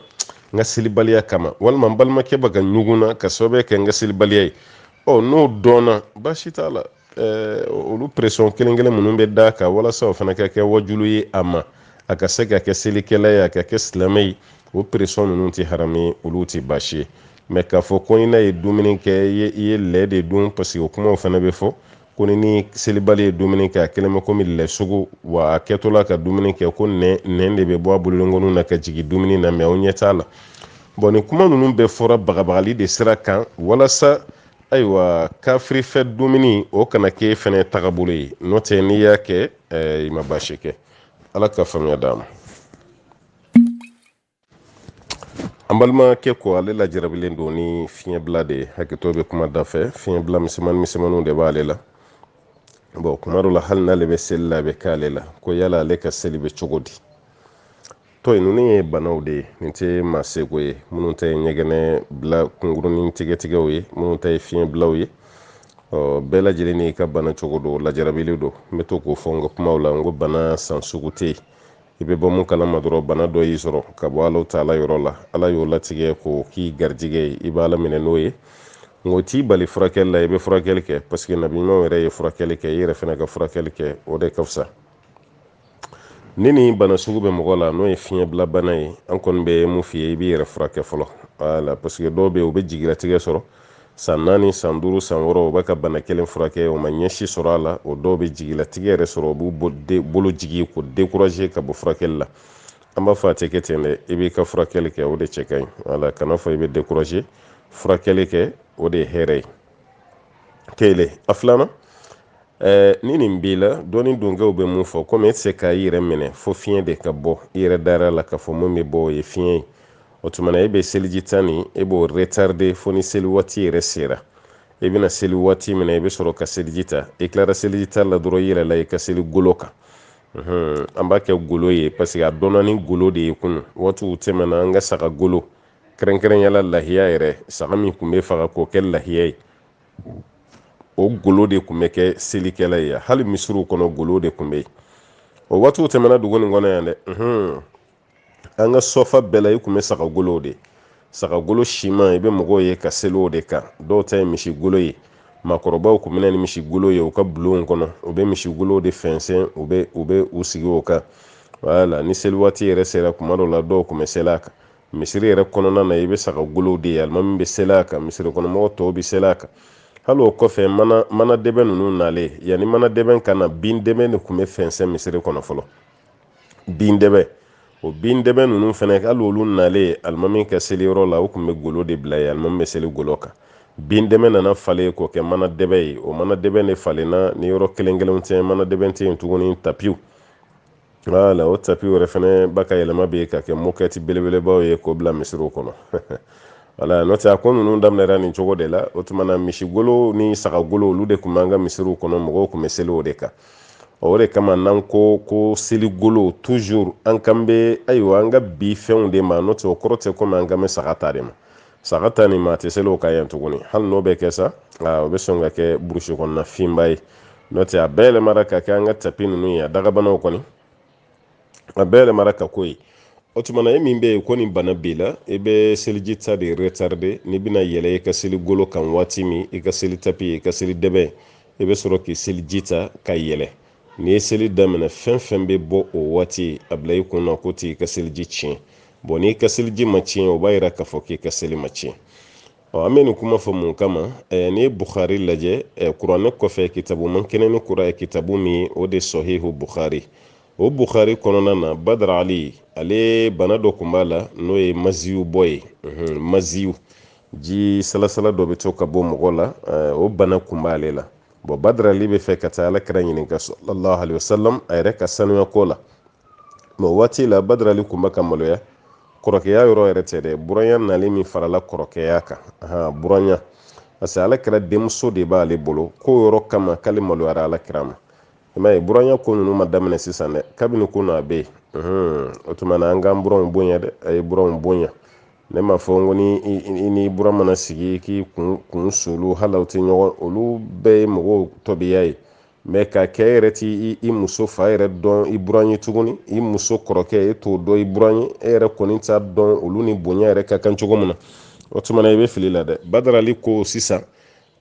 n ka selibaliya kama walima n balimakɛ bɛ ka ɲugun na ka sababu kɛ n ka selibaliya ye ɔ n'o dɔnna baasi t'a la eh, olu pression kelen kelen minnu bɛ d'a kan walasa o fana ka kɛ wajulu ye a ma a ka se ka kɛ selikɛla ye a ka kɛ silamɛ ye o pression ninnu tɛ haramu ye olu tɛ baasi ye mɛ k'a fɔ ko i n'a ye dumuni kɛ i ye lɛ de dun parce que o kumaw fana bɛ fɔ ko ni ni selibali ye dumuni kɛ a kɛlen bɛ komi lɛsogo wa a kɛtɔ la ka dumuni kɛ ko nɛn nɛn de bɛ bɔ a bolodenkɔninw na ka jigin dumuni na mɛ aw ɲɛ t'a la bɔn nin kuma ninnu bɛɛ fɔra bagabagali de sira kan walasa ayiwa kafiri fɛ dumuni o kana k'e fɛnɛ tagabolo ye n'o tɛ n'i y'a kɛ eh, i ma baasi kɛ ala ka faamuya d'an ma an balimakɛ ko ale lajarabilen don ni fiɲɛbila de ye hakɛto bɛ kuma da fɛ fiɲɛbila misɛnmani misɛnmaniw de b'ale la bɔn kuma dɔ la hali n'ale bɛ seli la a bɛ k'ale la ko yala ale ka seli bɛ cogo di tɔ in ninnu ye banaw de ye nin tɛ maa seko ye minnu ta ye ɲɛgɛnɛ bila kunkurunin tigɛtigɛw ye minnu ta ye fiɲɛbilaw ye ɔ bɛɛ lajɛlen n'i ka bana cogo don lajarabilen don n bɛ to k'o fɔ n ka kumaw la n ko bana san sugu tɛ yen i bɛ bɔ mun kalama dɔrɔn bana dɔ y'i sɔrɔ ka bɔ ala taala yɔrɔ la ala y'o latigɛ k'o k'i garijɛgɛ ye i b'a laminɛ n'o ye nk'o t'i bali furakɛli la i bɛ furakɛli kɛ paseke nabi ɲumanw yɛrɛ ye furakɛli kɛ i yɛrɛ fana ka furakɛli kɛ o de ka fisa ni nin bana sugu bɛ mɔgɔ la n'o ye fiɲɛbila bana ye an kɔni bɛ mun f'i ye i b'i yɛrɛ furakɛ fɔlɔ wala paseke dɔw bɛ yen u bɛ jigilatigɛ sɔrɔ san naani san duuru san wɔɔrɔ u bɛ ka bana kelen furakɛ o ma ɲɛ si sɔrɔ a la o dɔw bɛ jigilatigɛ yɛrɛ sɔrɔ u b'u bolo jigi k'u dekuraze ka bɔ furakɛli la an b'a fɔ a tɛ kɛ ten dɛ i b'i ka furakɛli kɛ o de cɛ ka ɲi wala kana fɔ i bɛ dekuraze furakɛli kɛ o de ye hɛrɛ ye kelen a filanan Eh, ni nin b'i la dɔnni donkɛw bɛ mun fɔ komi e tɛ se ka i yɛrɛ minɛ fo fiɲɛ de ka bɔ i yɛrɛ dara la k'a fɔ mun bɛ bɔ o ye fiɲɛ ye o tuma na e bɛ seliji ta nin e b'o retarde fo ni seli waati yɛrɛ sera i bɛna seli waati min na i bɛ sɔrɔ ka seliji ta i tilara seliji ta la dɔrɔn i yɛlɛla i ka seli golo kan an b'a kɛ golo ye parce que a dɔnna ni golo de ye kunu waatiw tɛmɛna an ka saga golo kɛrɛnkɛrɛnyala lahiya yɛrɛ saga min tun bɛ faga k'o kɛ lahiya ye o golo de tun bɛ kɛ selikɛlan ye hali misiriw kɔnɔ golo de tun bɛ yen o waatiw tɛmɛna dugu nin kɔnɔ yan dɛ an ka sɔfa bɛɛ la i tun bɛ sagagolow de sagagolo siman i bɛ mɔgɔw ye ka seli o de kan dɔw ta ye misigolo ye maakɔrɔbaw tun bɛ na ni misigolo ye u ka bulonw kɔnɔ u bɛ misigolow de fɛnsɛn u bɛ u bɛ u sigi o kan wala ni seli waati yɛrɛ sera kuma dɔw la dɔw tun bɛ seli a kan misiri yɛrɛ kɔnɔna na i bɛ sagagolow de ye alimami bɛ seli a kan misiri kɔnɔmɔgɔw tɔw bɛ seli a kan hali o kɔfɛ mana mana dɛbɛn ninnu nalen yanni mana dɛbɛn ka na bin dɛbɛn de tun bɛ fɛnsɛn misiri kɔnɔ fɔlɔ bin dɛbɛ o bin dɛbɛ ninnu fana hali olu nalen alimami ka seli yɔrɔ la u tun bɛ golo de bila yen alimami bɛ seli golo kan bin dɛbɛ nana falen k'o kɛ mana dɛbɛ ye o mana dɛbɛ de falenna ni yɔrɔ kelen kelenw tɛ mana dɛbɛ tɛ yen tuguni tapiw wala o tapiw yɛrɛ fana ba ka yɛlɛma bɛ yen ka kɛ mɔkɛti belebelebaw ye k'o bila misiriw kɔnɔ wala n'o tɛ a ko ninnu daminɛra nin cogo de la o tuma na misigolo ni sagagolo olu de tun b'an ka misiriw kɔnɔ mɔgɔw tun bɛ seli o de kan o de kama n'an ko ko seligolo toujours an kan bɛ ayiwa an ka bi fɛnw de ma n'o tɛ o kɔrɔ tɛ komi an kan bɛ saga ta de ma saga ta nin ma a tɛ seli o kan yan tuguni hali n'o bɛ kɛ sa o bɛ sɔn ka kɛ burusi kɔnɔna finba ye n'o tɛ a bɛɛ yɛlɛmara ka kɛ an ka tapi ninnu ye a dagabanaw kɔni a bɛɛ yɛlɛmara ka k'o ye o tuma na e min bɛ yen ko nin bana b'i la i bɛ seliji ta de retarder n'i bɛna yɛlɛ i ka seli golo kan waati min i ka seli tapi i ka seli dɛbɛn i bɛ sɔrɔ k'i seliji ta ka yɛlɛ n'i ye seli daminɛ fɛn fɛn bɛ bɔ o waati a bila i kun na k'o t'i ka seliji tiɲɛ bon n'i ka seliji ma tiɲɛ o b'a yira k'a fɔ k'i ka seli ma tiɲɛ ɔ an bɛ nin kuma fɔ mun kama ɛɛ n'i ye bukhari lajɛ ɛɛ kuranɛ kɔfɛ kitabu man kɛnɛ ni kura ye kitabu min o de sahihu bukhari o bukhari kɔnɔna na badarali ale bana dɔ tun b'a la n'o ye maziyu bɔ ye maziyu ji salasala dɔ bɛ to ka bɔ mɔgɔ la o bana tun b'ale la bon badarali b'a fɛ ka taa ala kira ɲininka sallallahu alaihi wasallam a yɛrɛ ka sanuya ko la mɛ waati la badarali tun bɛ ka maloya kɔrɔkɛya yɔrɔ yɛrɛ tɛ dɛ buranya nalen min farala kɔrɔkɛya kan buranya parce que ala kira denmuso de b'ale bolo k'o yɔrɔ kama k'ale maloyara ala kira ma i m'a ye buranya ko ninnu ma daminɛ sisan dɛ kabini ko na a bɛ yen o tuma na an k'an buranw bonya dɛ a ye buranw bonya ne m'a fɔ n ko ni i ni buran mana sigi k'i kun kun solu hali aw tɛ ɲɔgɔn olu bɛɛ ye mɔgɔw tɔbiya ye mɛ ka kɛ yɛrɛ t'i muso fa yɛrɛ dɔn i buran ye tuguni i muso kɔrɔkɛ e t'o dɔn i buran ye e yɛrɛ kɔni t'a dɔn olu ni bonya yɛrɛ ka kan cogo min na o tuma na i bɛ fili la dɛ badarali ko sisan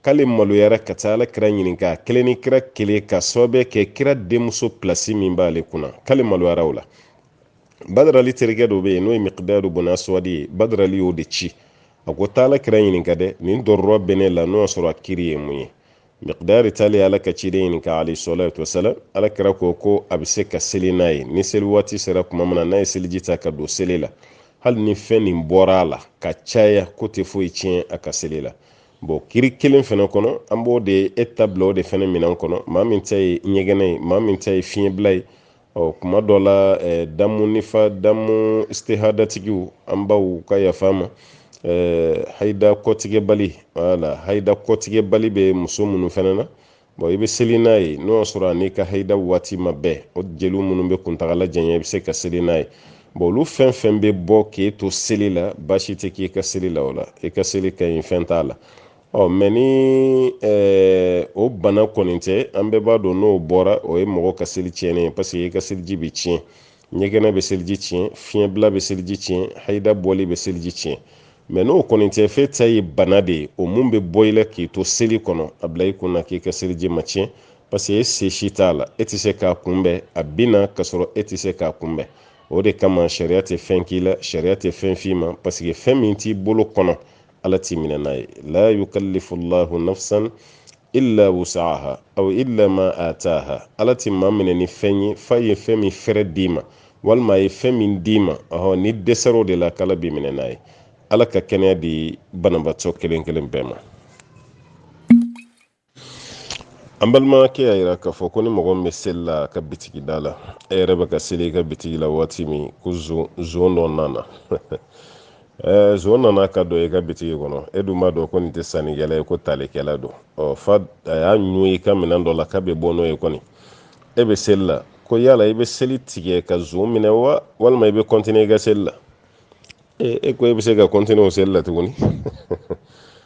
k'ale maloyara ka taa ala kira ɲininka a kelen ni kira kelen ka sababu kɛ kira denmuso pilasi min b'ale kunna k'ale maloyara o la badarali terikɛ dɔ bɛ yen n'o ye mikidadu bun aswadi ye badarali y'o de ci a ko taa ala kira ɲininka dɛ nin dɔrɔrɔ bɛ ne la n'o y'a sɔrɔ a kiri ye mun ye mikidadu taalen ye ala ka ciden ɲininka alaihi salatu wasalam ala kira ko ko a bɛ se ka seli n'a ye ni seli waati sera kuma min na n'a ye seliji ta ka don seli la hali ni fɛn nin bɔra a la ka caya k'o tɛ foyi tiɲɛ a ka seli la bon kiri kelen fana kɔnɔ an b'o de e ta bila o de fana minɛn kɔnɔ maa min ta ye ɲɛgɛnɛ ye maa min ta ye fiɲɛbila ye ɔ kuma dɔ la eh, damu nifa damu istihadatigiw an baw ka yafa an ma eh, haida kɔtigɛbali wala haida kɔtigɛbali bɛ muso minnu fana na bɔn i bɛ seli n'a ye n'o y'a sɔrɔ a n'i ka haida waati ma bɛn o jeliw minnu bɛ kuntagala janya i bɛ se ka seli n'a ye bɔn olu fɛn fɛn bɛ bɔ k'e to seli la baasi tɛ k'i ka seli la o la i ka seli ka ɲi fɛn t'a la ɔ mɛ ni o bana kɔni tɛ an bɛɛ b'a dɔn n'o bɔra o ye mɔgɔ ka seli tiɲɛnen ye parce que i ka seliji bɛ tiɲɛ ɲɛgɛnɛ bɛ seliji tiɲɛ fiɲɛbila bɛ seliji tiɲɛ hayida bɔli bɛ seliji tiɲɛ mɛ n'o kɔni tɛ fɛn ta ye bana de ye o min bɛ bɔ i la k'i to seli kɔnɔ a bila i kun na k'i ka seliji ma tiɲɛ parce que e se si t'a la e tɛ se k'a kunbɛn a bɛ na k'a sɔrɔ e tɛ se k'a kunbɛn o de kama sariya tɛ fɛn k'i la sariya tɛ fɛn f'i ma parce que fɛn min t'i bolo kɔnɔ ala t'i minɛ n'a ye la yukallifu llahu nafsan illa wusaha aw illa ma ataha ala tɛ maa minɛ ni fɛn ye f'a ye fɛn min fɛɛrɛ d'i ma walima a ye fɛn min d'i ma ɔhɔ n'i dɛsɛr'o de la k'ala b'i minɛ n'a ye ala ka kɛnɛya di banabaatɔ kelen kelen bɛɛ ma an balimakɛ y'a yira k'a fɔ ko ni mɔgɔ min bɛ seli la a ka bitigi da la e yɛrɛ bɛ ka seli i ka bitigi la waati min ko zon dɔ nana ɛɛ zon nana ka don i ka bitigi kɔnɔ e dun b'a dɔn ko nin tɛ sannikɛla ye ko talikɛla don ɔ fo a y'a ɲun i ka minɛn dɔ la k'a bɛ bɔ n'o ye kɔni e bɛ seli la ko yala i bɛ seli tigɛ ka zon minɛ wa walima i bɛ kɔntiniye i ka seli la e ko e bɛ se ka kɔntiniye o seli la tuguni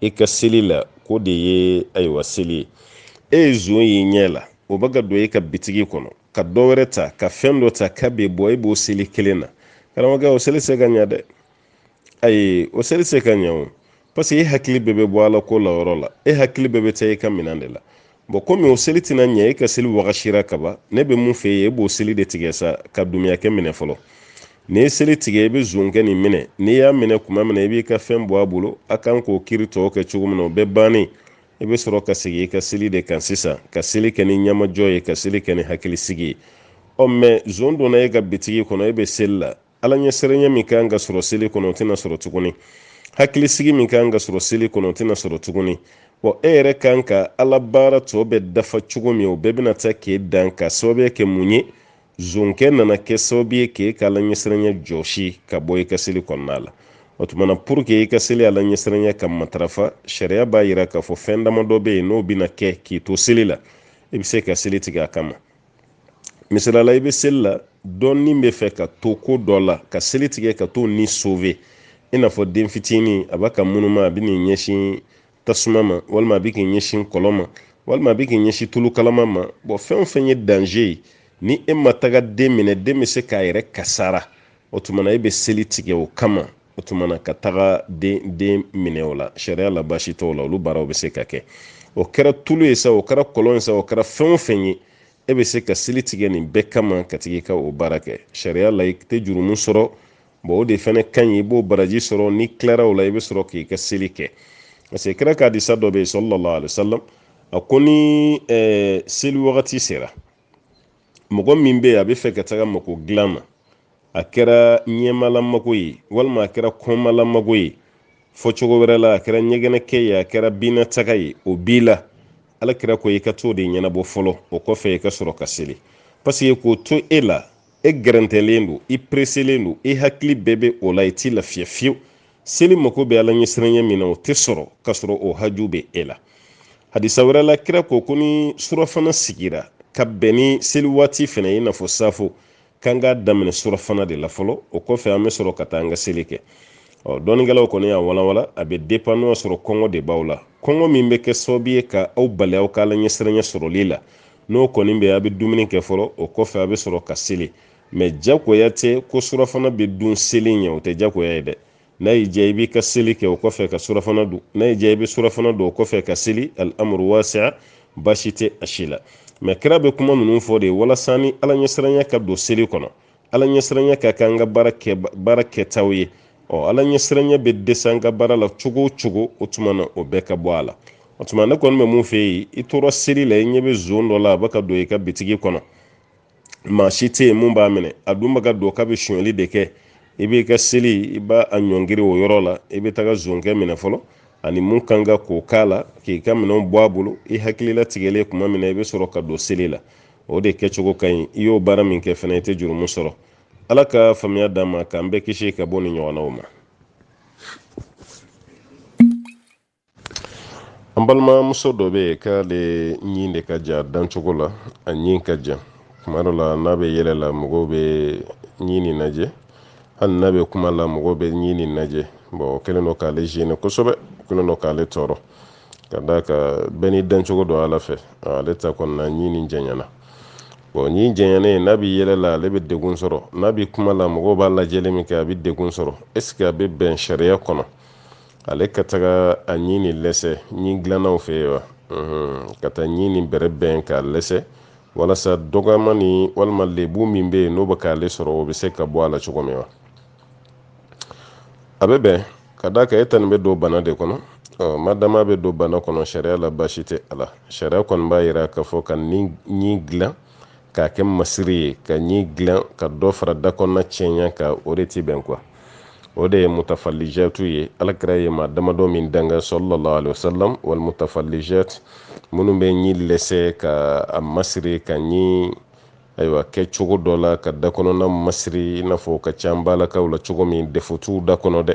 i ka seli la ko de ye ayiwa seli ye e ye zon y'i ɲɛ la o bɛ ka don e ka bitigi kɔnɔ ka dɔ wɛrɛ ta ka fɛn dɔ ta k'a bɛ bɔ e b'o seli kelen na karamɔgɔkɛ o seli se ka ɲɛ dɛ ayi o seli se ka ɲɛ o parce que e hakili bɛɛ bɛ bɔ ala ko la yɔrɔ la e hakili bɛɛ bɛ taa e ka minɛn de la bɔn komi o seli tɛna ɲɛ e ka seli wagasira kaban ne bɛ min fɛ ye e b'o seli de tigɛ sa ka dumuyakɛ minɛ fɔlɔ n'i ye seli tigɛ i bɛ zonkɛ nin minɛ n'i y'a minɛ kuma min na i b'i ka fɛn bɔ a bolo a kan k'o kiri tɔw kɛ cogo min na o bɛɛ bannen i bɛ sɔrɔ ka segin i ka seli de kan sisan ka seli kɛ ni ɲamajɔ ye ka seli kɛ ni hakilisigi ye ɔ mɛ zon donna e ka bitigi kɔnɔ e bɛ seli la ala ɲɛsiranya min kan ka sɔrɔ seli kɔnɔ o tɛna sɔrɔ tuguni hakilisigi min kan ka sɔrɔ seli kɔnɔ o tɛna sɔrɔ tuguni wa e yɛrɛ kan ka ala baara tɔ bɛɛ dafa cogo min o bɛɛ bɛna taa k'e dan k'a sababuya kɛ mun ye zonkɛ nana kɛ sababu ye k'e ka ala ɲɛsiranya jɔsi k'a bɔ i ka seli kɔnɔna la o tuma na pour que i ka seli ala ɲɛsiranya ka matarafa sariya b'a yira k'a fɔ fɛn damadɔ bɛ yen n'o bɛna kɛ k'i to seli la i bɛ se ka seli tigɛ a kama misali la i bɛ seli la dɔ ni bɛ fɛ ka to ko dɔ la ka seli tigɛ ka t'o ni sove i n'a fɔ den fitinin a b'a ka munuma a bɛ n'i ɲɛsin tasuma ma walima a bɛ k'i ɲɛsin kɔlɔn ma walima a bɛ k'i ɲɛsin tulu kalama ma bɔn fɛn o fɛn ye danze ye ni e ma taga den minɛ den bɛ se k'a yɛrɛ kasara o tuma na e bɛ seli tigɛ o kama o tumana ka taga den den minɛ o la sariya la baasi t'o la olu baaraw bɛ se ka kɛ o kɛra tulu ye sa o kɛra kɔlɔn ye sa o kɛra fɛn o fɛn ye e bɛ se ka seli tigɛ nin bɛɛ kama k'a tigɛ ka o baara kɛ sariya la i tɛ jurumu sɔrɔ bɔn o de fɛnɛ ka ɲi i b'o baraji sɔrɔ n'i tilara o la i bɛ sɔrɔ k'i ka seli kɛ parce que kira ka hadisa dɔ bɛ yen sallallahu alaihi wasallam a ko ni seli wagati sera mɔgɔ min bɛ yen a bɛ fɛ ka taga mako dilan ma a kɛra ɲɛmalamako ye walima a kɛra kɔnmalamako ye fɔ cogo wɛrɛ la a kɛra ɲɛgɛnɛkɛ ye a kɛra binnataga ye o b'i la ala kira ko i ka t'o de ɲɛnabɔ fɔlɔ o kɔfɛ i ka sɔrɔ ka seli paseke k'o to e la e gɛrɛntɛlen don i pereselen don i hakili bɛɛ bɛ o la i t'i lafiya fiyewu seli mako bɛ ala ɲɛsiranya min na o tɛ sɔrɔ ka sɔrɔ o haju bɛ e la hadisa wɛrɛ la kira ko ko ni surafana sigira ka bɛn ni seli waati fɛnɛ ye i n'a fɔ safo k'an k'a daminɛ surafana de la fɔlɔ o kɔfɛ an bɛ sɔrɔ ka taa an ka seli kɛ ɔ dɔnnikɛlaw kɔni y'a walawala a bɛ depan n'o y'a sɔrɔ kɔngɔ de b'aw la kɔngɔ min bɛ kɛ sababu ye ka aw bali aw ka ala ɲɛsiranya sɔrɔli la n'o kɔni bɛ a bɛ dumuni kɛ fɔlɔ o kɔfɛ a bɛ sɔrɔ ka seli mɛ jagoya tɛ ko surafana bɛ dun seli ɲɛ o tɛ jagoya ye dɛ n'a y'i diya i b'i ka seli kɛ o kɔfɛ ka surafana dun n'a y'i diya i bɛ surafana dun o kɔfɛ ka seli al'amuru wasiya baasi tɛ a si la mɛ kira bɛ kuma ninnu fɔ de walasa ni ala ɲɛsiranya ka don seli kɔnɔ ala ɲɛsiranya ka kɛ an ka baara kɛ baara kɛtaw ye ɔ ala ɲɛsiranya bɛ dɛsɛ an ka baara la cogo o cogo o tuma na o bɛɛ ka bɔ a la o tuma ne kɔni bɛ mun fɛ yen i tora seli la i ɲɛ bɛ zon dɔ la a bɛ ka don i ka bitigi kɔnɔ maa si tɛ yen mun b'a minɛ a dun bɛ ka don k'a bɛ sonyali de kɛ i b'i ka seli i b'a ɲɔngiri o yɔrɔ la i bɛ taga zonkɛ minɛ fɔlɔ ani mun kan ka k'o k'a la k'i ka minɛnw bɔ a bolo i hakili latigɛlen tuma min na i bɛ sɔrɔ ka don seli la o de kɛcogo ka ɲi i y'o baara min kɛ fana i tɛ jurumu sɔrɔ ala ka faamuya d'an ma k'an bɛɛ kisi ka bɔ nin ɲɔgɔnnaw ma an balimamuso dɔ bɛ yen k'ale ɲin de ka jan dancogo la a ɲin ka jan kuma dɔ la n'a bɛ yɛlɛ la mɔgɔw bɛ ɲin nin lajɛ hali n'a bɛ kuma la mɔgɔw bɛ ɲin nin lajɛ bɔn o kɛlen don k'ale zeni kosɛbɛ o kɛlen don k'ale tɔɔrɔ ka d'a kan bɛɛ n'i dancogo don ala fɛ ale ta kɔni na ɲin nin janyana bɔn ɲin janyana n'a bɛ yɛlɛ la ale bɛ degun sɔrɔ n'a bɛ kuma la mɔgɔw b'a lajɛli min kɛ a bɛ degun sɔrɔ ɛseke a bɛ bɛn sariya kɔnɔ ale ka taga a ɲi nin lɛsɛ ɲi dilannaw fɛ yen wa ka taa ɲi nin bɛrɛbɛn k'a lɛsɛ walasa dɔgɔma ni walima lebu min bɛ yen n'o bɛ k'ale sɔrɔ o bɛ se ka bɔ a la cogo min wa a bɛ bɛn ka d'a kan e ta nin bɛ don bana de kɔnɔ ɔ madama bɛ don bana kɔnɔ sariya la baasi tɛ a la sariya kɔni b'a jira k'a fɔ ka ɲi dilan k'a kɛ masiri ye ka ɲi dilan ka dɔ fara da kɔnɔna cɛɲa kan o de tɛ bɛn quoi o de ye mutafalijatu ye ala kira ye maa damadɔ min danga sallallahu alaihi wasallam wal mutafalijat minnu bɛ ɲi lɛsɛ ka a masiri ka ɲi ayiwa kɛ cogo dɔ la ka da kɔnɔna masiri i n'a fɔ ka ca balakaw la cogo min defo t'u da kɔnɔ dɛ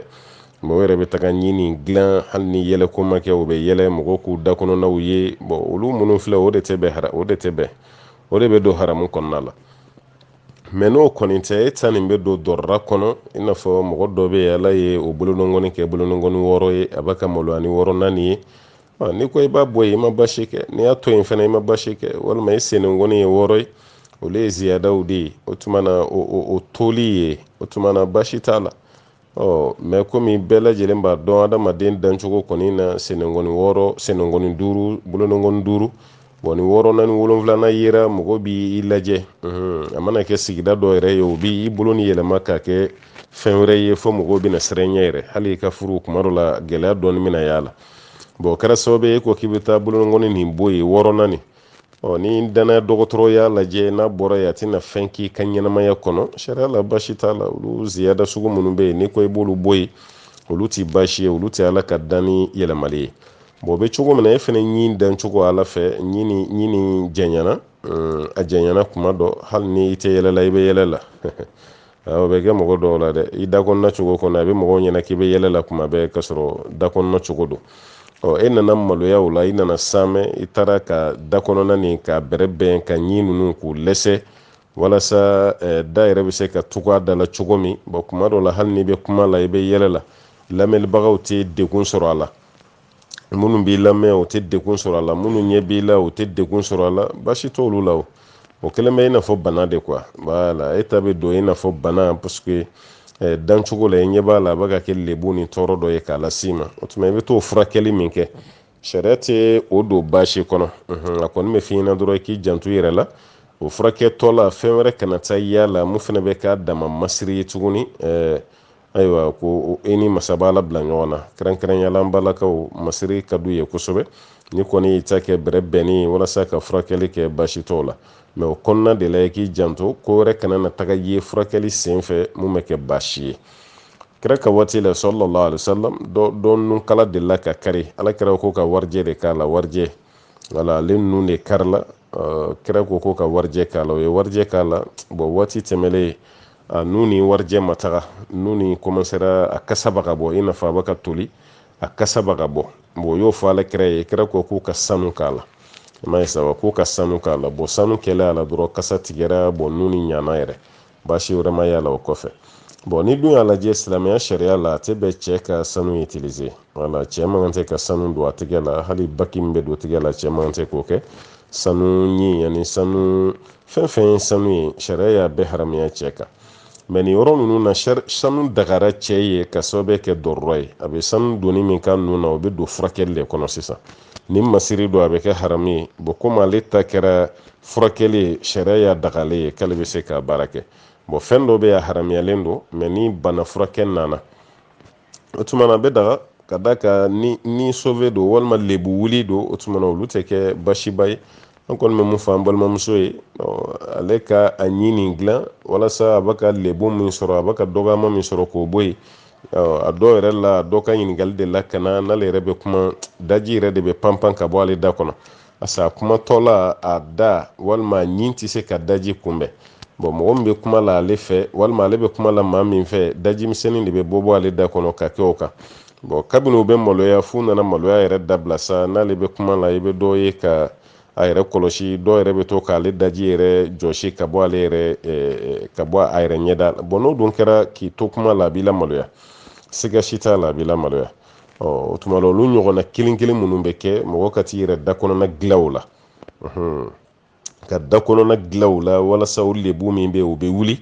mɛ o yɛrɛ bɛ taga ɲi nin dilan hali ni yɛlɛ ko ma kɛ o bɛ yɛlɛ mɔgɔw k'u da kɔnɔnaw ye bɔn olu minnu filɛ o de tɛ bɛn o de tɛ bɛn o de bɛ don haramu kɔnɔna la mɛ n'o kɔni tɛ e ta nin bɛ don dɔrɔra kɔnɔ i n'a fɔ mɔgɔ dɔ bɛ yen ala ye o bolonɔngɔni kɛ bolonɔngɔni wɔɔrɔ ye a bɛ ka maloya ni wɔɔrɔnan nin ye n'i ko i b'a bɔ yen i ma basi kɛ n'i y'a to yen fana i ma basi kɛ walima i senengɔni ye wɔɔrɔ ye olu ye ziyadaw de ye o tuma na o toli yen o tuma na basi t'a la ɔ mɛ komi bɛɛ lajɛlen b'a dɔn adamaden dancogo kɔni na senengɔni wɔɔrɔ senengɔni duuru bolonengɔni duuru bɔn ni wɔɔrɔnan ni wolonfilanan yera mɔgɔ b'i lajɛ a mana kɛ sigida dɔ yɛrɛ ye o b'i bolo ni yɛlɛma k'a kɛ fɛn wɛrɛ ye fo mɔgɔw bɛna siran i ɲɛ yɛrɛ hali i ka furu kuma dɔ la gɛlɛya dɔɔni bɛna y'a la bɔn o kɛra sababu ye ko k'i bɛ taa bolonengɔni nin bɔ yen wɔɔrɔnan nin ɔ ni dannaya dɔgɔtɔrɔ y'a lajɛ n'a bɔra yen a tɛna fɛn k'i ka ɲɛnamaya kɔnɔ sariya la basi t'a la olu ziyada sugu minnu bɛ yen n'i ko i b'olu bɔ yen olu tɛ basi ye olu tɛ ala ka danni yɛlɛmali ye bɔn o bɛ cogo min na e fana ɲin dancogo ala fɛ ɲi nin ɲi nin janyana a janyana kuma dɔ hali ni i tɛ yɛlɛ la i bɛ yɛlɛ la o bɛ kɛ mɔgɔ dɔw la dɛ i da kɔnɔna cogo kɔnɔ a bɛ mɔgɔw ɲɛna k'i bɛ yɛlɛ la kuma bɛɛ ka sɔrɔ da kɔnɔna cogo don ɔ e nana maloya o la i nana saamɛ i taara ka da kɔnɔna nin k'a bɛrɛbɛn ka ɲi ninnu k'u lɛsɛ walasa eh, da yɛrɛ bɛ se ka tugu a da la cogo min bɔn kuma dɔ la hali n'i bɛ kuma la i bɛ yɛlɛ la lamɛnlibagaw tɛ degun sɔrɔ a la minnu b'i lamɛn o tɛ degun sɔrɔ a la minnu ɲɛ b'i la o tɛ degun sɔrɔ a la baasi t'olu la o o kɛlen bɛ i n'a fɔ bana de quoi voilà e ta bɛ don i n'a fɔ bana parce que eh, dancogo la i ɲɛ b'a la a bɛ ka kɛ lebu ni tɔɔrɔ dɔ ye k'a las'i ma o tuma i bɛ t'o furakɛli min kɛ sariya tɛ o don baasi kɔnɔ a kɔni bɛ f'i ɲɛna dɔrɔn k'i janto i yɛrɛ la o furakɛtɔ la fɛn wɛrɛ kana taa y'a la min fana bɛ k'a dama masiri ye tuguni eh, ayiwa ko e ni masaba ala bila ɲɔgɔn na kɛrɛnkɛrɛnya la an balakaw masiri ka d'u ye kosɛbɛ n'i kɔni y'i ta kɛ bɛrɛ bɛnnen walasa ka furakɛli kɛ baasi t'o la mɛ o kɔnɔna de la i k'i janto ko wɛrɛ kana na taga ye furakɛli sen fɛ min bɛ kɛ baasi ye kira ka waati la sallallahu alaihi wasallam dɔ nun kala delila ka kari ala kira ko ka warijɛ de k'a la warijɛ wala ale nun de karila kira ko ko ka warijɛ k'a la o ye warijɛ k'a la bɔn waati tɛmɛlen a nun ni warijɛ ma taga nun nin kɔmansera a kasa bɛ ka bɔ i n'a fɔ a bɛ ka toli a kasa bɛ ka bɔ bɔn o y'o fɔ ala kira ye kira ko k'u ka sanu k'a la i m'a ye sa wa k'u ka sanu k'a la bɔn sanu kɛlen a la dɔrɔn kasa tigɛra bɔn nun nin ɲana yɛrɛ baasi wɛrɛ ma y'a la o kɔfɛ bɔn n'i dun y'a lajɛ silamɛya sariya la a tɛ bɛn cɛ ka sanu utilize wala cɛ man kan tɛ ka sanu don a tigɛ la hali baki min bɛ don tigɛ la cɛ man kan tɛ k'o kɛ sanu ɲin ani sanu fɛn fɛn ye sanu ye sariya y'a bɛɛ haramuya cɛ kan mɛ nin yɔrɔ ninnu na sanu dagara cɛ ye ka sababu kɛ dɔrɔrɔ ye a bɛ sanu donni min k'a nun na o bɛ don furakɛli de kɔnɔ sisan ni masiri don a bɛ kɛ haramu ye bɔn komi ale ta kɛra furakɛli ye sariya y'a dagalen ye k'ale bɛ se k'a baara kɛ bɔn fɛn dɔ bɛ yen a haramuyalen don mɛ ni bana furakɛ nana o tuma na a bɛ daga ka d'a kan ni ni sove don walima lebu wuli don o tuma na olu tɛ kɛ baasiba ye an kɔni bɛ mun fɔ an balimamuso ye ale ka a ɲin nin dilan walasa a bɛ ka lebu min sɔrɔ a bɛ ka dɔgɔyama min sɔrɔ k'o bɔ yen a dɔw yɛrɛ la dɔ ka ɲininkali delila ka na n'ale yɛrɛ bɛ kuma daji yɛrɛ de bɛ panpan ka bɔ ale da kɔnɔ pas'a kumatɔ la a da walima a ɲin tɛ se ka daji kunbɛn bɔn mɔgɔ min bɛ kuma la ale fɛ walima ale bɛ kuma la maa min fɛ daji misɛnnin de bɛ bɔbɔ ale da kɔnɔ ka kɛ o kan bɔn kabini u bɛ maloya f'u nana maloya yɛrɛ dabila sa n'ale bɛ kuma la i bɛ dɔ ye ka a yɛrɛ kɔlɔsi dɔw yɛrɛ bɛ to k'ale daji yɛrɛ jɔsi ka bɔ ale yɛrɛ ka bɔ a yɛrɛ ɲɛda bɔn n'o dun kɛra k'i to kuma la a b'i lamaloya siga si t'a la a b'i lamaloya o tuma na olu ɲɔgɔnna kelen kelen minnu bɛ kɛ mɔgɔ ka t'i yɛrɛ da kɔnɔna dilan o la ka da kɔnɔna dilan o la walasa o lebu min bɛ o bɛ wuli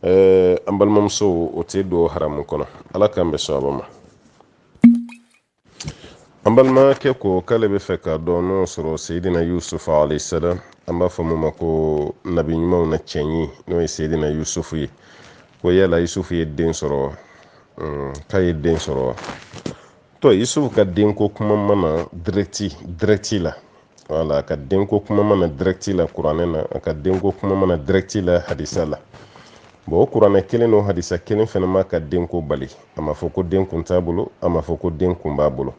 an balimamuso o tɛ don haramu kɔnɔ ala k'an bɛɛ sɔn a ma an balimakɛ ko k'ale b'a fɛ k'a dɔn n'o sɔrɔ seyidina yusufu alaihi salam an b'a fɔ min ma ko nabi ɲumanw na cɛɲi n'o ye seyidina yusufu ye ko yala yusufu ye den sɔrɔ k'a ye den sɔrɔ wa tɔ yusufu ka denko kuma ma na dirɛti dirɛti la wala a ka denko kuma ma na dirɛti la kuranɛ na a ka denko kuma ma na dirɛti la hadisa la bɔn o kuranɛ kelen n'o hadisa kelen fɛnɛ m'a ka denko bali a ma fɔ ko den kun t'a bolo a ma fɔ ko den kun b'a bolo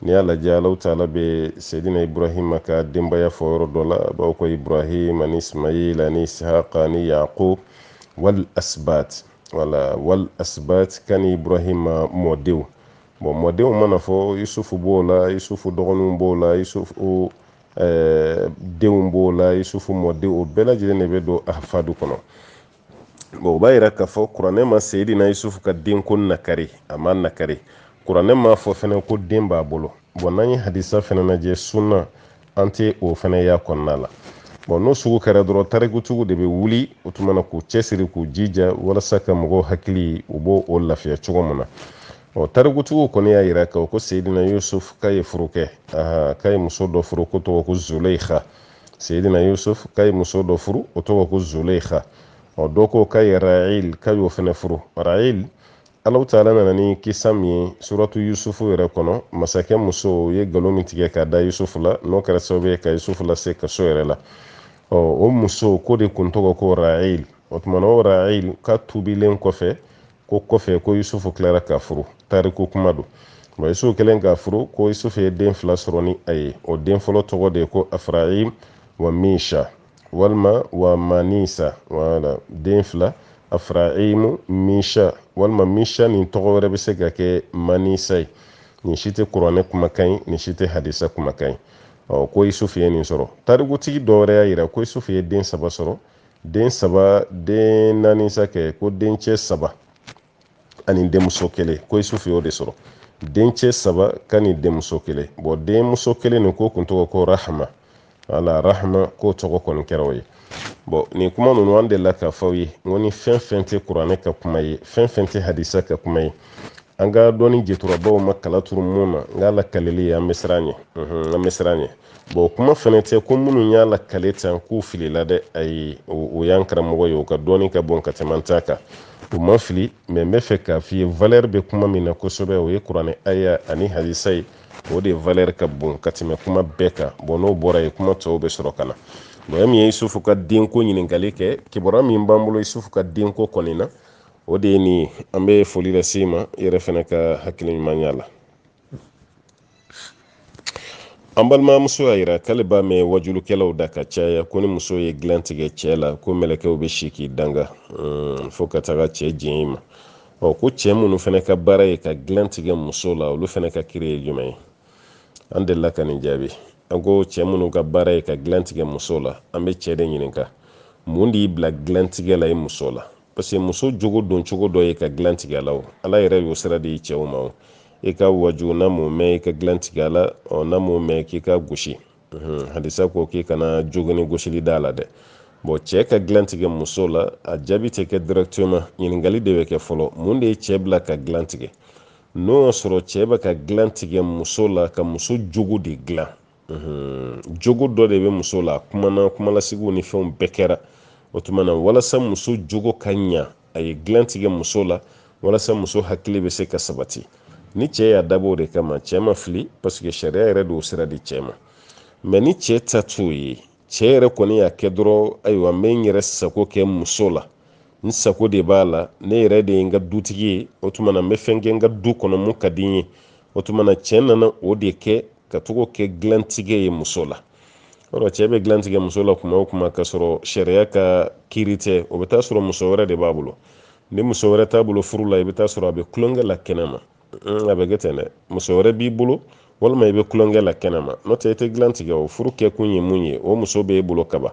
n'i y'a lajɛ alahu taala bɛ seyidina ibrahima ka denbaya fɔ yɔrɔ dɔ la a b'a fɔ ko ibrahim ani ismail ani isihaka ani yaqub wal asbat wala wal asbat kani ibrahima mɔdenw bɔn mɔdenw mana fɔ yusufu b'o la yusufu dɔgɔninw b'o la yusufu eh, denw b'o la yusufu mɔdenw o bɛɛ lajɛlen de bɛ don ahafadu kɔnɔ bɔn o b'a yira k'a fɔ kuranɛ ma seyidina yusufu ka denko nakari a m'a nakari kuranɛ m'a fɔ fɛnɛ ko den b'a bolo bɔn n'an ye hadisa fɛnɛ lajɛ sunna an tɛ o fɛnɛ y'a kɔnɔna la bɔn n'o sugu kɛra dɔrɔn tarikutigiw de bɛ wuli o tuma na k'u cɛsiri k'u jija walasa ka mɔgɔw hakili u b'o o lafiya cogo min na ɔ tarikutigiw kɔni y'a yira ka ko seyidina yusuf k'a ye furu kɛ k'a ye muso dɔ furu k'o tɔgɔ ko zuleikha seyidina yusuf k'a ye muso dɔ furu o tɔgɔ ko zuleikha ɔ dɔ ko k'a ye rail k'a y'o fɛnɛ furu rail alahu taala nana ni kisa min ye suratu yusufu yɛrɛ kɔnɔ masakɛ muso ye galo min tigɛ k'a da yusufu la n'o kɛra sababu ye ka yusufu lase kaso yɛrɛ la ɔ o muso k'o de kun tɔgɔ ko rail o tuma na o rail ka tubilen kɔfɛ ko kɔfɛ ko yusufu tilara k'a furu tariku kuma don nka yusufu kɛlen k'a furu ko yusufu ye den fila sɔrɔ ni a ye o den fɔlɔ tɔgɔ de ye ko afraim wa misha walima wa manisa wala den fila afraimu misha walima misha nin tɔgɔ wɛrɛ bɛ se ka kɛ manisa ye nin si tɛ kuranɛ kumakan ye nin si tɛ hadisa kumakan ye ɔ ko isufu ye nin sɔrɔ tarikutigi dɔ wɛrɛ y'a yira ko isufu ye den saba sɔrɔ den saba den naani sa kɛ ko dencɛ saba ani denmuso kelen ko isufu y'o de sɔrɔ dencɛ saba ka ni denmuso kelen bɔn denmuso kelen nin k'o kun tɔgɔ ko rahama wala rahama k'o tɔgɔ kɔni kɛra o ye bɔn nin kuma ninnu an delila k'a f'aw ye n ko ni fɛn fɛn tɛ kuranɛ ka kuma ye fɛn fɛn tɛ hadisa ka kuma ye an ka dɔnni jɛturabaw ma kala turu mun na nka lakaleli ye an bɛ siran ɲɛ an bɛ siran ɲɛ bɔn kuma fɛnɛ tɛ ko minnu y'a lakale tan k'u filila dɛ ayi o y'an karamɔgɔ ye o ka dɔnni ka bon ka tɛmɛ an ta kan u ma fili mɛ n bɛ fɛ k'a f'i ye valɛri bɛ kuma min na kosɛbɛ o ye kuranɛ aya ani hadisa ye o de valɛri ka bon ka tɛmɛ kuma bɛɛ kan bɔn n'o bɔra yen kuma tɔw bɛ sɔrɔ ka na mɔgɔ min ye isufu ka denko ɲininkali kɛ kibaruya min b'an bolo isufu ka denko kɔni na o de ye nin ye an bɛ foli lase ma i yɛrɛ fɛnɛ ka hakili ɲumanya la an balimamuso y'a yira k'ale b'a mɛn wajulukɛlaw da ka caya ko ni muso ye dilan tigɛ cɛ la ko mɛlɛkɛw bɛ si k'i danga hmm, fo ka taga cɛ jɛn i ma ɔ ko cɛ minnu fɛnɛ ka baara ye ka dilan tigɛ muso la olu fɛnɛ ka kiri ye jumɛn ye an delila ka nin jaabi an ko cɛ minnu ka baara ye ka dilan tigɛ muso la an bɛ cɛ de ɲininka mun de y'i bila dilantigɛ la i muso la parce que muso jogo don cogo dɔ ye ka dilan tigɛ a la o ala yɛrɛ y'o sira di cɛw ma o i k'a waaju n'a m'o mɛn i ka dilan tigɛ a la ɔ n'a m'o mɛn k'i k'a gosi hadisa ko k'i kana jogini gosili d'a la dɛ bon cɛ ka dilan tigɛ muso la a jaabi tɛ kɛ directement ɲininkali de bɛ kɛ fɔlɔ mun de ye cɛ bila ka dilan tigɛ n'o y'a sɔrɔ cɛ bɛ ka dilan tigɛ muso la ka muso jogo de dilan jogo dɔ de bɛ muso la kumana kumalasigiw ni fɛnw bɛɛ kɛra o tuma na walasa muso jogo ka ɲa a ye dilan tigɛ muso la walasa muso hakili bɛ se ka sabati ni cɛ y'a dabɔ o de kama cɛ ma fili parce que sariya yɛrɛ de y'o sira di cɛ ma mais ni cɛ ta t'o ye cɛ yɛrɛ kɔni y'a kɛ dɔrɔn ayiwa n bɛ n yɛrɛ sago kɛ muso la n sago de b'a la ne yɛrɛ de ye n ka dutigi ye o tuma na n bɛ fɛn kɛ n ka du kɔnɔ mun ka di n ye o tuma na cɛ nana o de kɛ k'a tɔgɔ kɛ dilantigɛ ye muso la o cɛ bɛ dilan tigɛ muso la kuma o kuma ka sɔrɔ sariya ka kiiri tɛ o bɛ taa sɔrɔ muso wɛrɛ de b'a bolo ni muso wɛrɛ t'a bolo furu la i bɛ taa sɔrɔ a bɛ kulonkɛ la kɛnɛma mm, a bɛ kɛ ten dɛ muso wɛrɛ b'i bolo walima i bɛ kulonkɛ la kɛnɛma n'o tɛ i tɛ dilan tigɛ o furu kɛkun ye mun ye o muso b'e bolo kaban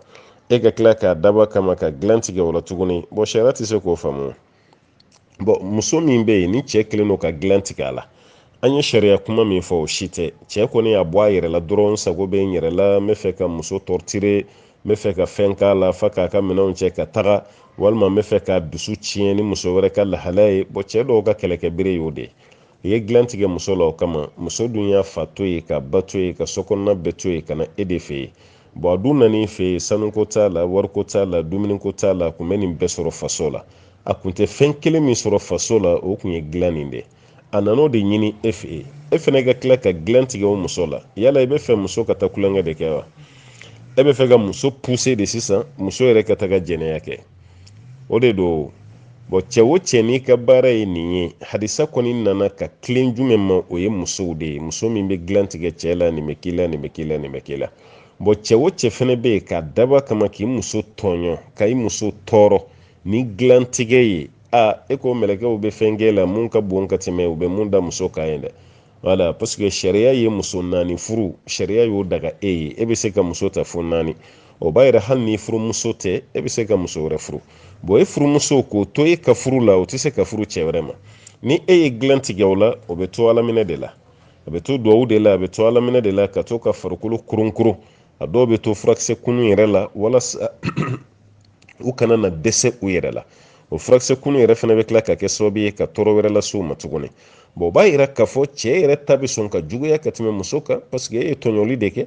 e ka tila k'a dab'a kama ka dilan tigɛ o la tuguni bon sariya tɛ se k'o faamu bon muso min bɛ yen ni cɛ kɛlen don ka dilan tigɛ a la an ye sariya kuma min fɔ o si tɛ cɛ kɔni y'a bɔ a yɛrɛ la dɔrɔn sago bɛ n yɛrɛ la n bɛ fɛ ka muso torturer n bɛ fɛ ka fɛn k'a la f'a k'a ka minɛnw cɛ ka taga walima n bɛ fɛ k'a dusu tiɲɛ ni muso wɛrɛ ka lahalaya ye bon cɛ dɔw ka kɛlɛkɛbere y'o de u ye dilan tigɛ muso la o kama muso dun y'a fa to ye k'a ba to ye ka sokɔnɔna bɛɛ to ye ka na e de fɛ yen bon a dun nan'i fɛ yen sanuko t'a la wariko t'a la dumuniko t'a la a kun bɛ nin bɛɛ sɔrɔ faso la a kun tɛ fɛn kelen min sɔrɔ faso la o kun ye dilan nin de a nan'o de ɲini e fɛ yen e fana ka tila ka dilan tigɛ o muso la yala i bɛ fɛ muso ka taa kulonkɛ de kɛ wa e bɛ fɛ ka muso pousser de sisan muso yɛrɛ ka taga jɛnɛya kɛ o de don bon cɛ o cɛ n'i ka baara ye nin ye hadisa kɔni nana ka tilen jumɛn ma o ye musow de ye muso min bɛ dilan tigɛ cɛ la nin bɛ k'i la nin bɛ k'i la nin bɛ k'i la bon cɛ o cɛ fana bɛ yen k'a dab'a kama k'i muso tɔɲɔ ka i muso tɔɔrɔ ni dilan tigɛ ye aa e ko mɛlɛkɛw bɛ fɛn k'e la mun ka bon ka tɛmɛ u bɛ mun da muso kan ye dɛ voilà parce que sariya ye muso naani furu sariya y'o daga e ye e bɛ se ka muso ta fo naani o b'a yira hali ni furumuso tɛ e bɛ se ka muso wɛrɛ furu bon e furumuso k'o to e ka furu la o tɛ se ka furu cɛ wɛrɛ ma ni e ye dilan tigɛ o la o bɛ to alaminɛ de la a bɛ to duwawu de la a bɛ to alaminɛ de la ka to ka farikolo kurunkurun a dɔw bɛ to furakisɛ kunun yɛrɛ la walasa u kana na dɛsɛ u yɛrɛ la o furakisɛ kunu yɛrɛ fana bɛ tila ka kɛ sababu ye ka tɔɔrɔ wɛrɛ lase u ma tuguni bɔn o b'a yira k'a fɔ cɛ yɛrɛ ta bɛ sɔn ka juguya ka tɛmɛ muso kan paseke e ye tɔɲɔli de kɛ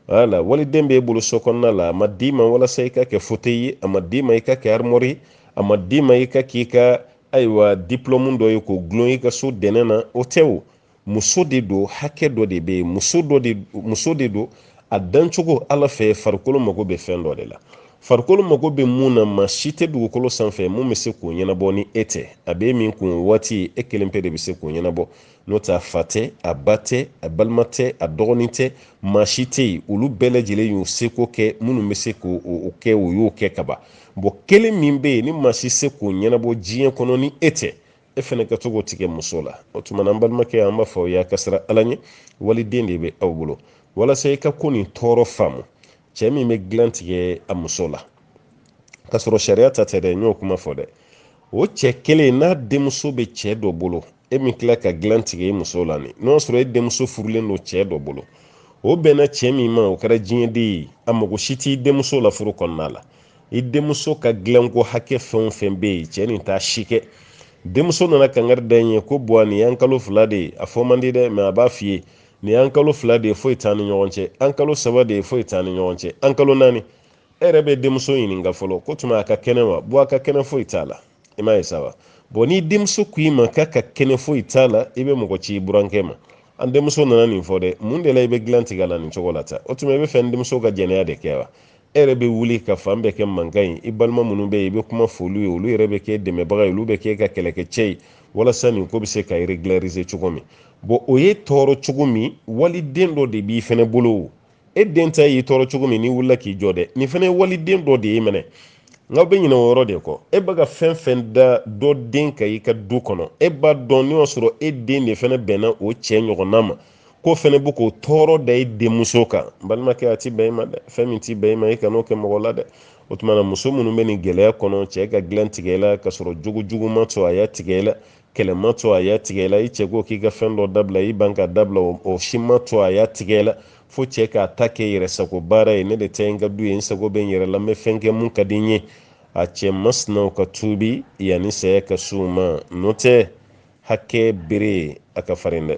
wala waliden b'e bolo so kɔnɔna la a ma d'i ma walasa i ka kɛ fote ye a ma d'i ma i ka kɛ arimɔri ye a ma d'i ma i ka k'i ka ayiwa diplɔmu dɔ ye k'o gulon i ka so dɛnɛ na o tɛ o muso de don hakɛ dɔ de bɛ yen muso de don a dancogo ala fɛ farikolo mago bɛ fɛn dɔ de la farikolo mago bɛ mun na maa si tɛ dugukolo sanfɛ mun bɛ se k'o ɲɛnabɔ ni e tɛ a bɛ min kun waati e kelen pe de bɛ se k'o ɲɛnabɔ n'o tɛ a fa tɛ a ba tɛ a balima tɛ a dɔgɔnin tɛ maa si tɛ yen olu bɛɛ lajɛlen y'u seko kɛ minnu bɛ se k'o kɛ o y'o kɛ ka ban bɔn kelen min bɛ yen ni maa si se k'o ɲɛnabɔ diɲɛ kɔnɔ ni e tɛ e fɛnɛ ka to k'o tigɛ muso la o tuma na an balimakɛ an b'a fɔ aw y'a ka siran ala ɲɛ waliden de bɛ aw bolo walasa i ka ko nin tɔɔrɔ faamu cɛ min bɛ dilan tigɛ a muso la k'a sɔrɔ sariya ta tɛ dɛ n y'o kuma fɔ dɛ o cɛ kelen n'a denmuso bɛ cɛ dɔ bolo e min tila ka dilan tigɛ i muso la ni n'o sɔrɔ e denmuso furulen don cɛ dɔ bolo o bɛnna cɛ min ma o kɛra diɲɛden ye a mago si t'i denmuso la furu kɔnɔna la i denmuso ka dilanko hakɛ fɛn o fɛn bɛ yen cɛ nin t'a si kɛ denmuso nana kangari da n ye ko buwa nin y'an kalo fila de ye a fɔ man di dɛ mɛ a b'a f'i ye nin y'an kalo fila de ye foyi t'an ni ɲɔgɔn cɛ an kalo saba de ye foyi t'an ni ɲɔgɔn cɛ an kalo naani e yɛrɛ bɛ denmuso ɲininka fɔlɔ k'o tuma a ka kɛnɛ wa buwa a ka kɛnɛ foyi t'a la i m'a ye sa wa bɔn ni denmuso ko i ma k'a ka kɛnɛ foyi t'a la i bɛ mɔgɔ ci i burankɛ ma an denmuso nana nin fɔ dɛ mun de la i bɛ dilan tigɛ la nin cogo la tan o tuma i bɛ fɛ n denmuso ka jɛnɛya de kɛ wa e yɛrɛ bɛ wuli ka fan bɛɛ kɛ mankan ye i balima minnu bɛ yen i bɛ kuma f'olu ye olu yɛrɛ bɛ kɛ dɛmɛbaga ye olu bɛ k'e ka kɛlɛkɛcɛ ye walasa nin ko bɛ se ka regulariser cogo min bɔn o y'e tɔɔrɔ cogo min waliden dɔ de b'i fɛnɛ bolo e den ta y'i tɔɔrɔ cogo min n'i wulila k'i jɔ dɛ nin fɛnɛ ye waliden dɔ de ye minɛ nk'aw bɛ ɲinɛ o yɔrɔ de kɔ e bɛ ka fɛn fɛn da dɔ den kan i ka du kɔnɔ e b'a dɔn n'o y'a sɔrɔ e den de fɛnɛ bɛnna o cɛ ɲɔgɔnna ma k'o fɛnɛ bɛ k'o tɔɔrɔ da i denmuso kan balimakɛ a ti bɛn i ma dɛ fɛn min ti bɛn i ma i kan'o kɛ mɔgɔ la dɛ o tuma na muso minnu bɛ nin gɛlɛya kɔnɔ cɛ ka dilan tigɛ i la k'a sɔrɔ jogo jugu m'a to a y'a tigɛ i la kɛlɛ m'a to a y'a tigɛ i la i cɛ ko k'i ka fɛn dɔ dabila i ban k'a dabila o si m'a to a y'a tigɛ i la fo cɛ k'a ta kɛ yɛrɛ sago baara ye ne de ta ye n ka du ye n sago bɛ n yɛrɛ la n bɛ fɛn kɛ mun ka di n ye a cɛ masinaw ka tuubi yanni saya ka se u ma n'o tɛ hakɛ bere a ka farin dɛ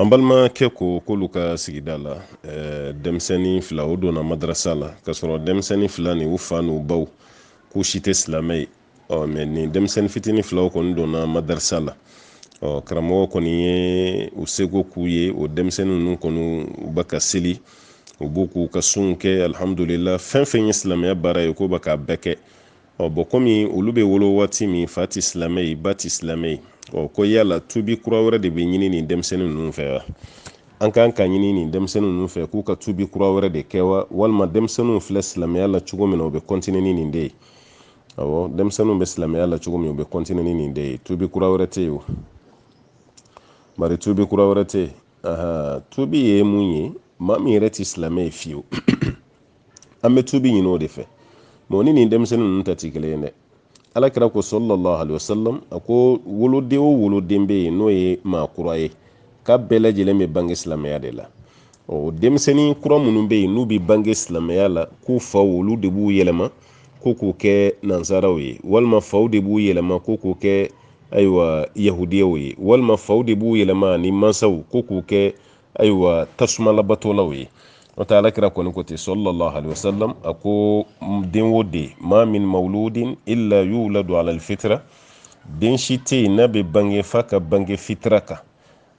an balimakɛ ko k'olu ka sigida la denmisɛnnin fila o donna madarasa la k'a sɔrɔ denmisɛnnin fila ni u fa n'u baw k'u si tɛ silamɛ ye ɔ mɛ nin denmisɛnnin fitinin filaw kɔni donna madarasa la ɔ karamɔgɔ kɔni ye u seko k'u ye o denmisɛnnin ninnu kɔni u bɛ ka seli u bɛ k'u ka sun kɛ alhamdulillah fɛn fɛn ye silamɛya baara ye k'u bɛ k'a bɛɛ kɛ ɔ bɔn kɔmi olu bɛ wolo waati min fa tɛ silamɛ ye ba tɛ silamɛ ye ɔ ko yala tubi kura wɛrɛ de bɛ ɲini nin denmisɛnnin ninnu fɛ wa an kan ka ɲini nin denmisɛnnin ninnu fɛ k'u ka tubi kura wɛrɛ de kɛ wa walima denmisɛnninw filɛ silamɛya la cogo min na u bɛ kɔntini ni nin de ye awɔ denmisɛnninw bɛ silamɛya la cogo min u bɛ kɔntini ni nin de ye tubi kura wɛrɛ tɛ yen o bari tubi kura wɛrɛ tɛ yen tubi ye mun ye maa min yɛrɛ tɛ silamɛ ye fiyewu an bɛ tubi ɲini o de fɛ mɛ ni nin denmisɛnnin ninnu ta tɛ kelen ye dɛ alakira ko sallallahu alayhi wa sallam a ko woloden o woloden bɛ yen n'o ye maa kura ye k'a bɛɛ lajɛlen bɛ bange silamɛya de la ɔ denmisɛnnin kura minnu bɛ yen n'u bɛ bange silamɛya la k'u faw olu de b'u yɛlɛma ko k'u kɛ nansaraw ye walima faw de b'u yɛlɛma ko k'u kɛ ayiwa yahudiyaw ye walima faw de b'u yɛlɛma ni mansaw ko k'u kɛ ayiwa tasuma labatolaw ye n'o tɛ alakira kɔni ko ten sallallahu alayhi wa sallam a ko den o den ma min mawludin illa yuladu ala alfitra den si tɛ yen n'a bɛ bange f'a ka bange fitira kan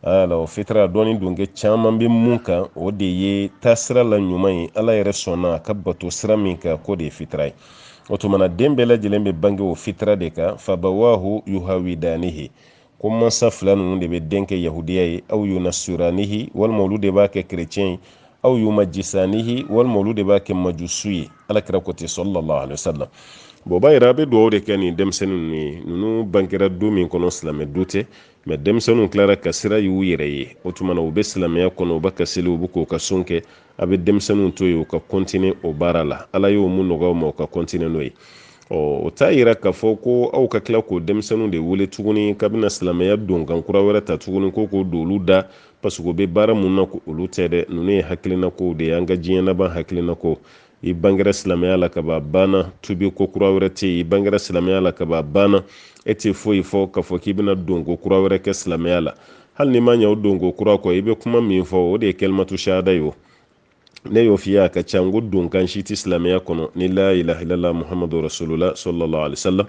ala alfitra dɔɔni don kɛ caman bɛ mun kan o de ye taasira la ɲuman ye ala yɛrɛ sɔnna a ka bato sira min kan k'o de ye fitira ye o tumana den bɛɛ lajɛlen bɛ bange o fitira de kan fa abawahu yuhawidanihi ko mansa fila ninnu de bɛ den kɛ yahudiya ye aw yunasiranihi walima olu de b'a kɛ kerecɛn ye aw yumajisanihi walima olu de b'a kɛ majusu ye alakira ko ten sallallahu alaihi wasallam bon o b'a yira a bɛ dugawu de kɛ nin denmisɛnnin ninnu ye ninnu bangera du min kɔnɔ silamɛ du tɛ mɛ denmisɛnninw tilara ka sira y'u yɛrɛ ye o tuma na u bɛ silamɛya kɔnɔ u bɛ ka seli u bɛ k'u ka sun kɛ a bɛ denmisɛnninw to yen u ka kɔntinin o baara la ala y'o min nɔgɔya u ma u ka kɔntinin n'o ye ɔ o t'a yira k'a fɔ ko aw ka tila k'o denmisɛnninw de wele tuguni k'a bɛna silamɛya donkan kura wɛrɛ ta tuguni ko k'o don olu da parce que u bɛ baara mun na olu tɛ dɛ ninnu ye hakilinakow de ye an ka diɲɛ laban hakilina ko i bangera silamɛya la ka ban banna tubi ko kura wɛrɛ tɛ yen i bangera silamɛya la ka ban banna e tɛ foyi fɔ k'a fɔ k'i bɛna donko kura wɛrɛ kɛ silamɛya la hali n'i ma ɲɛ o donko kura kɔ i bɛ kuma min fɔ o de ye kalimatu shahada ye o ne y'o f'i ye a ka ca n ko donkan si tɛ silamɛya kɔnɔ ni la ilaha illallah muhammadu rasulullah sallallahu alaihi wasallam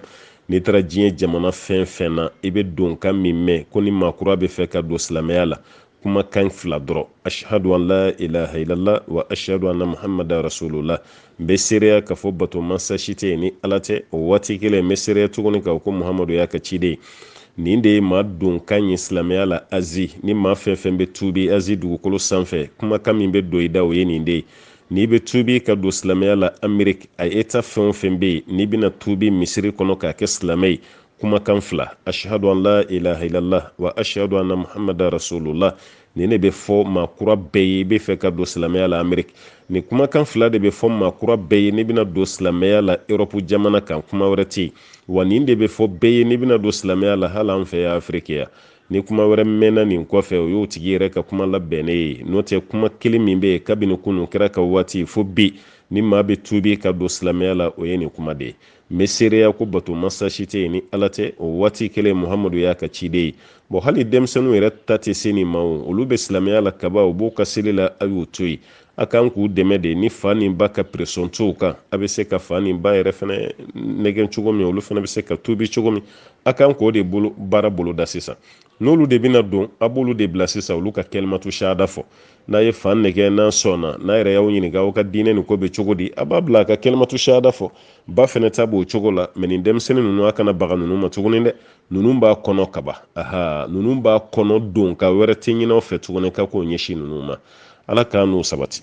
n'i taara diɲɛ jamana fɛn fɛn na i bɛ donkan min mɛn ko ni maakura bɛ fɛ ka don silamɛya la kumakan fila dɔrɔn ashhadu an la ilaha illallah wa ashhadu anna muhammadan rasulullah n bɛ seereya k'a fɔ bato mansa si tɛ yen ni ala tɛ o waati kelen n bɛ seereya tuguni ka ko muhamadu y'a ka ciden ye nin de ye maa donkan ye silamɛya la azi ni maa fɛn fɛn bɛ tuubi azi dugukolo sanfɛ kumakan min bɛ don i da o ye nin de ye n'i bɛ tuubi ka don silamɛya la ameriki a eta fɛn o fɛn bɛ yen n'i bɛna tuubi misiri kɔnɔ k'a kɛ silamɛ ye kumakan fila ashhadu an la ilaha illallah wa ashhadu anna muhammada rasulullah nin de bɛ fɔ maa kura bɛɛ ye i bɛ fɛ ka don silamɛya la ameriki nin kumakan fila de bɛ fɔ maa kura bɛɛ ye n'i bɛna don silamɛya la erɔpu jamana kan kuma wɛrɛ tɛ yen wa nin de bɛ fɔ bɛɛ ye n'i bɛna don silamɛya la hali an fɛ yan afiriki yan ni kuma wɛrɛ mɛnna nin kɔfɛ o y'o tigi yɛrɛ ka kuma labɛnnen ye n'o tɛ kuma kelen min bɛ yen kabini kunun kira ka waati fo bi ni maa bɛ tuubi ka don silamɛya la o ye nin kuma de ye n bɛ seereya ko bato masa si tɛ yen ni ala tɛ o waati kelen muhamadu y'a ka ciden ye bɔn hali denmisɛnninw yɛrɛ ta tɛ se nin ma o olu bɛ silamɛya la kaba u b'u ka seli la a y'u to yen a kan k'u dɛmɛ de ni fa ni ba ka presɔn t'u kan a bɛ se ka fa ni ba yɛrɛ fana nɛgɛn cogo min olu fana bɛ se ka tuubi cogo min a kan k'o de baara boloda sisan n'olu de bɛna don a b'olu de bila sisan olu ka kalimatu shahada fɔ n'a ye fa nɛgɛn n'a sɔnna n'a yɛrɛ y'aw ɲininka aw ka diinɛ nin ko bɛ cogo di a b'a bila a ka kalimatu shahada fɔ ba fɛnɛ ta b'o cogo la mɛ nin denmisɛnnin ninnu a kana baga ninnu ma tuguni dɛ ninnu b'a kɔnɔ kaba aha ninnu b'a kɔnɔ donkan wɛrɛ tɛ ɲin'aw fɛ tuguni ka k'o ɲɛsin ninnu ma ala k'an n'o sabati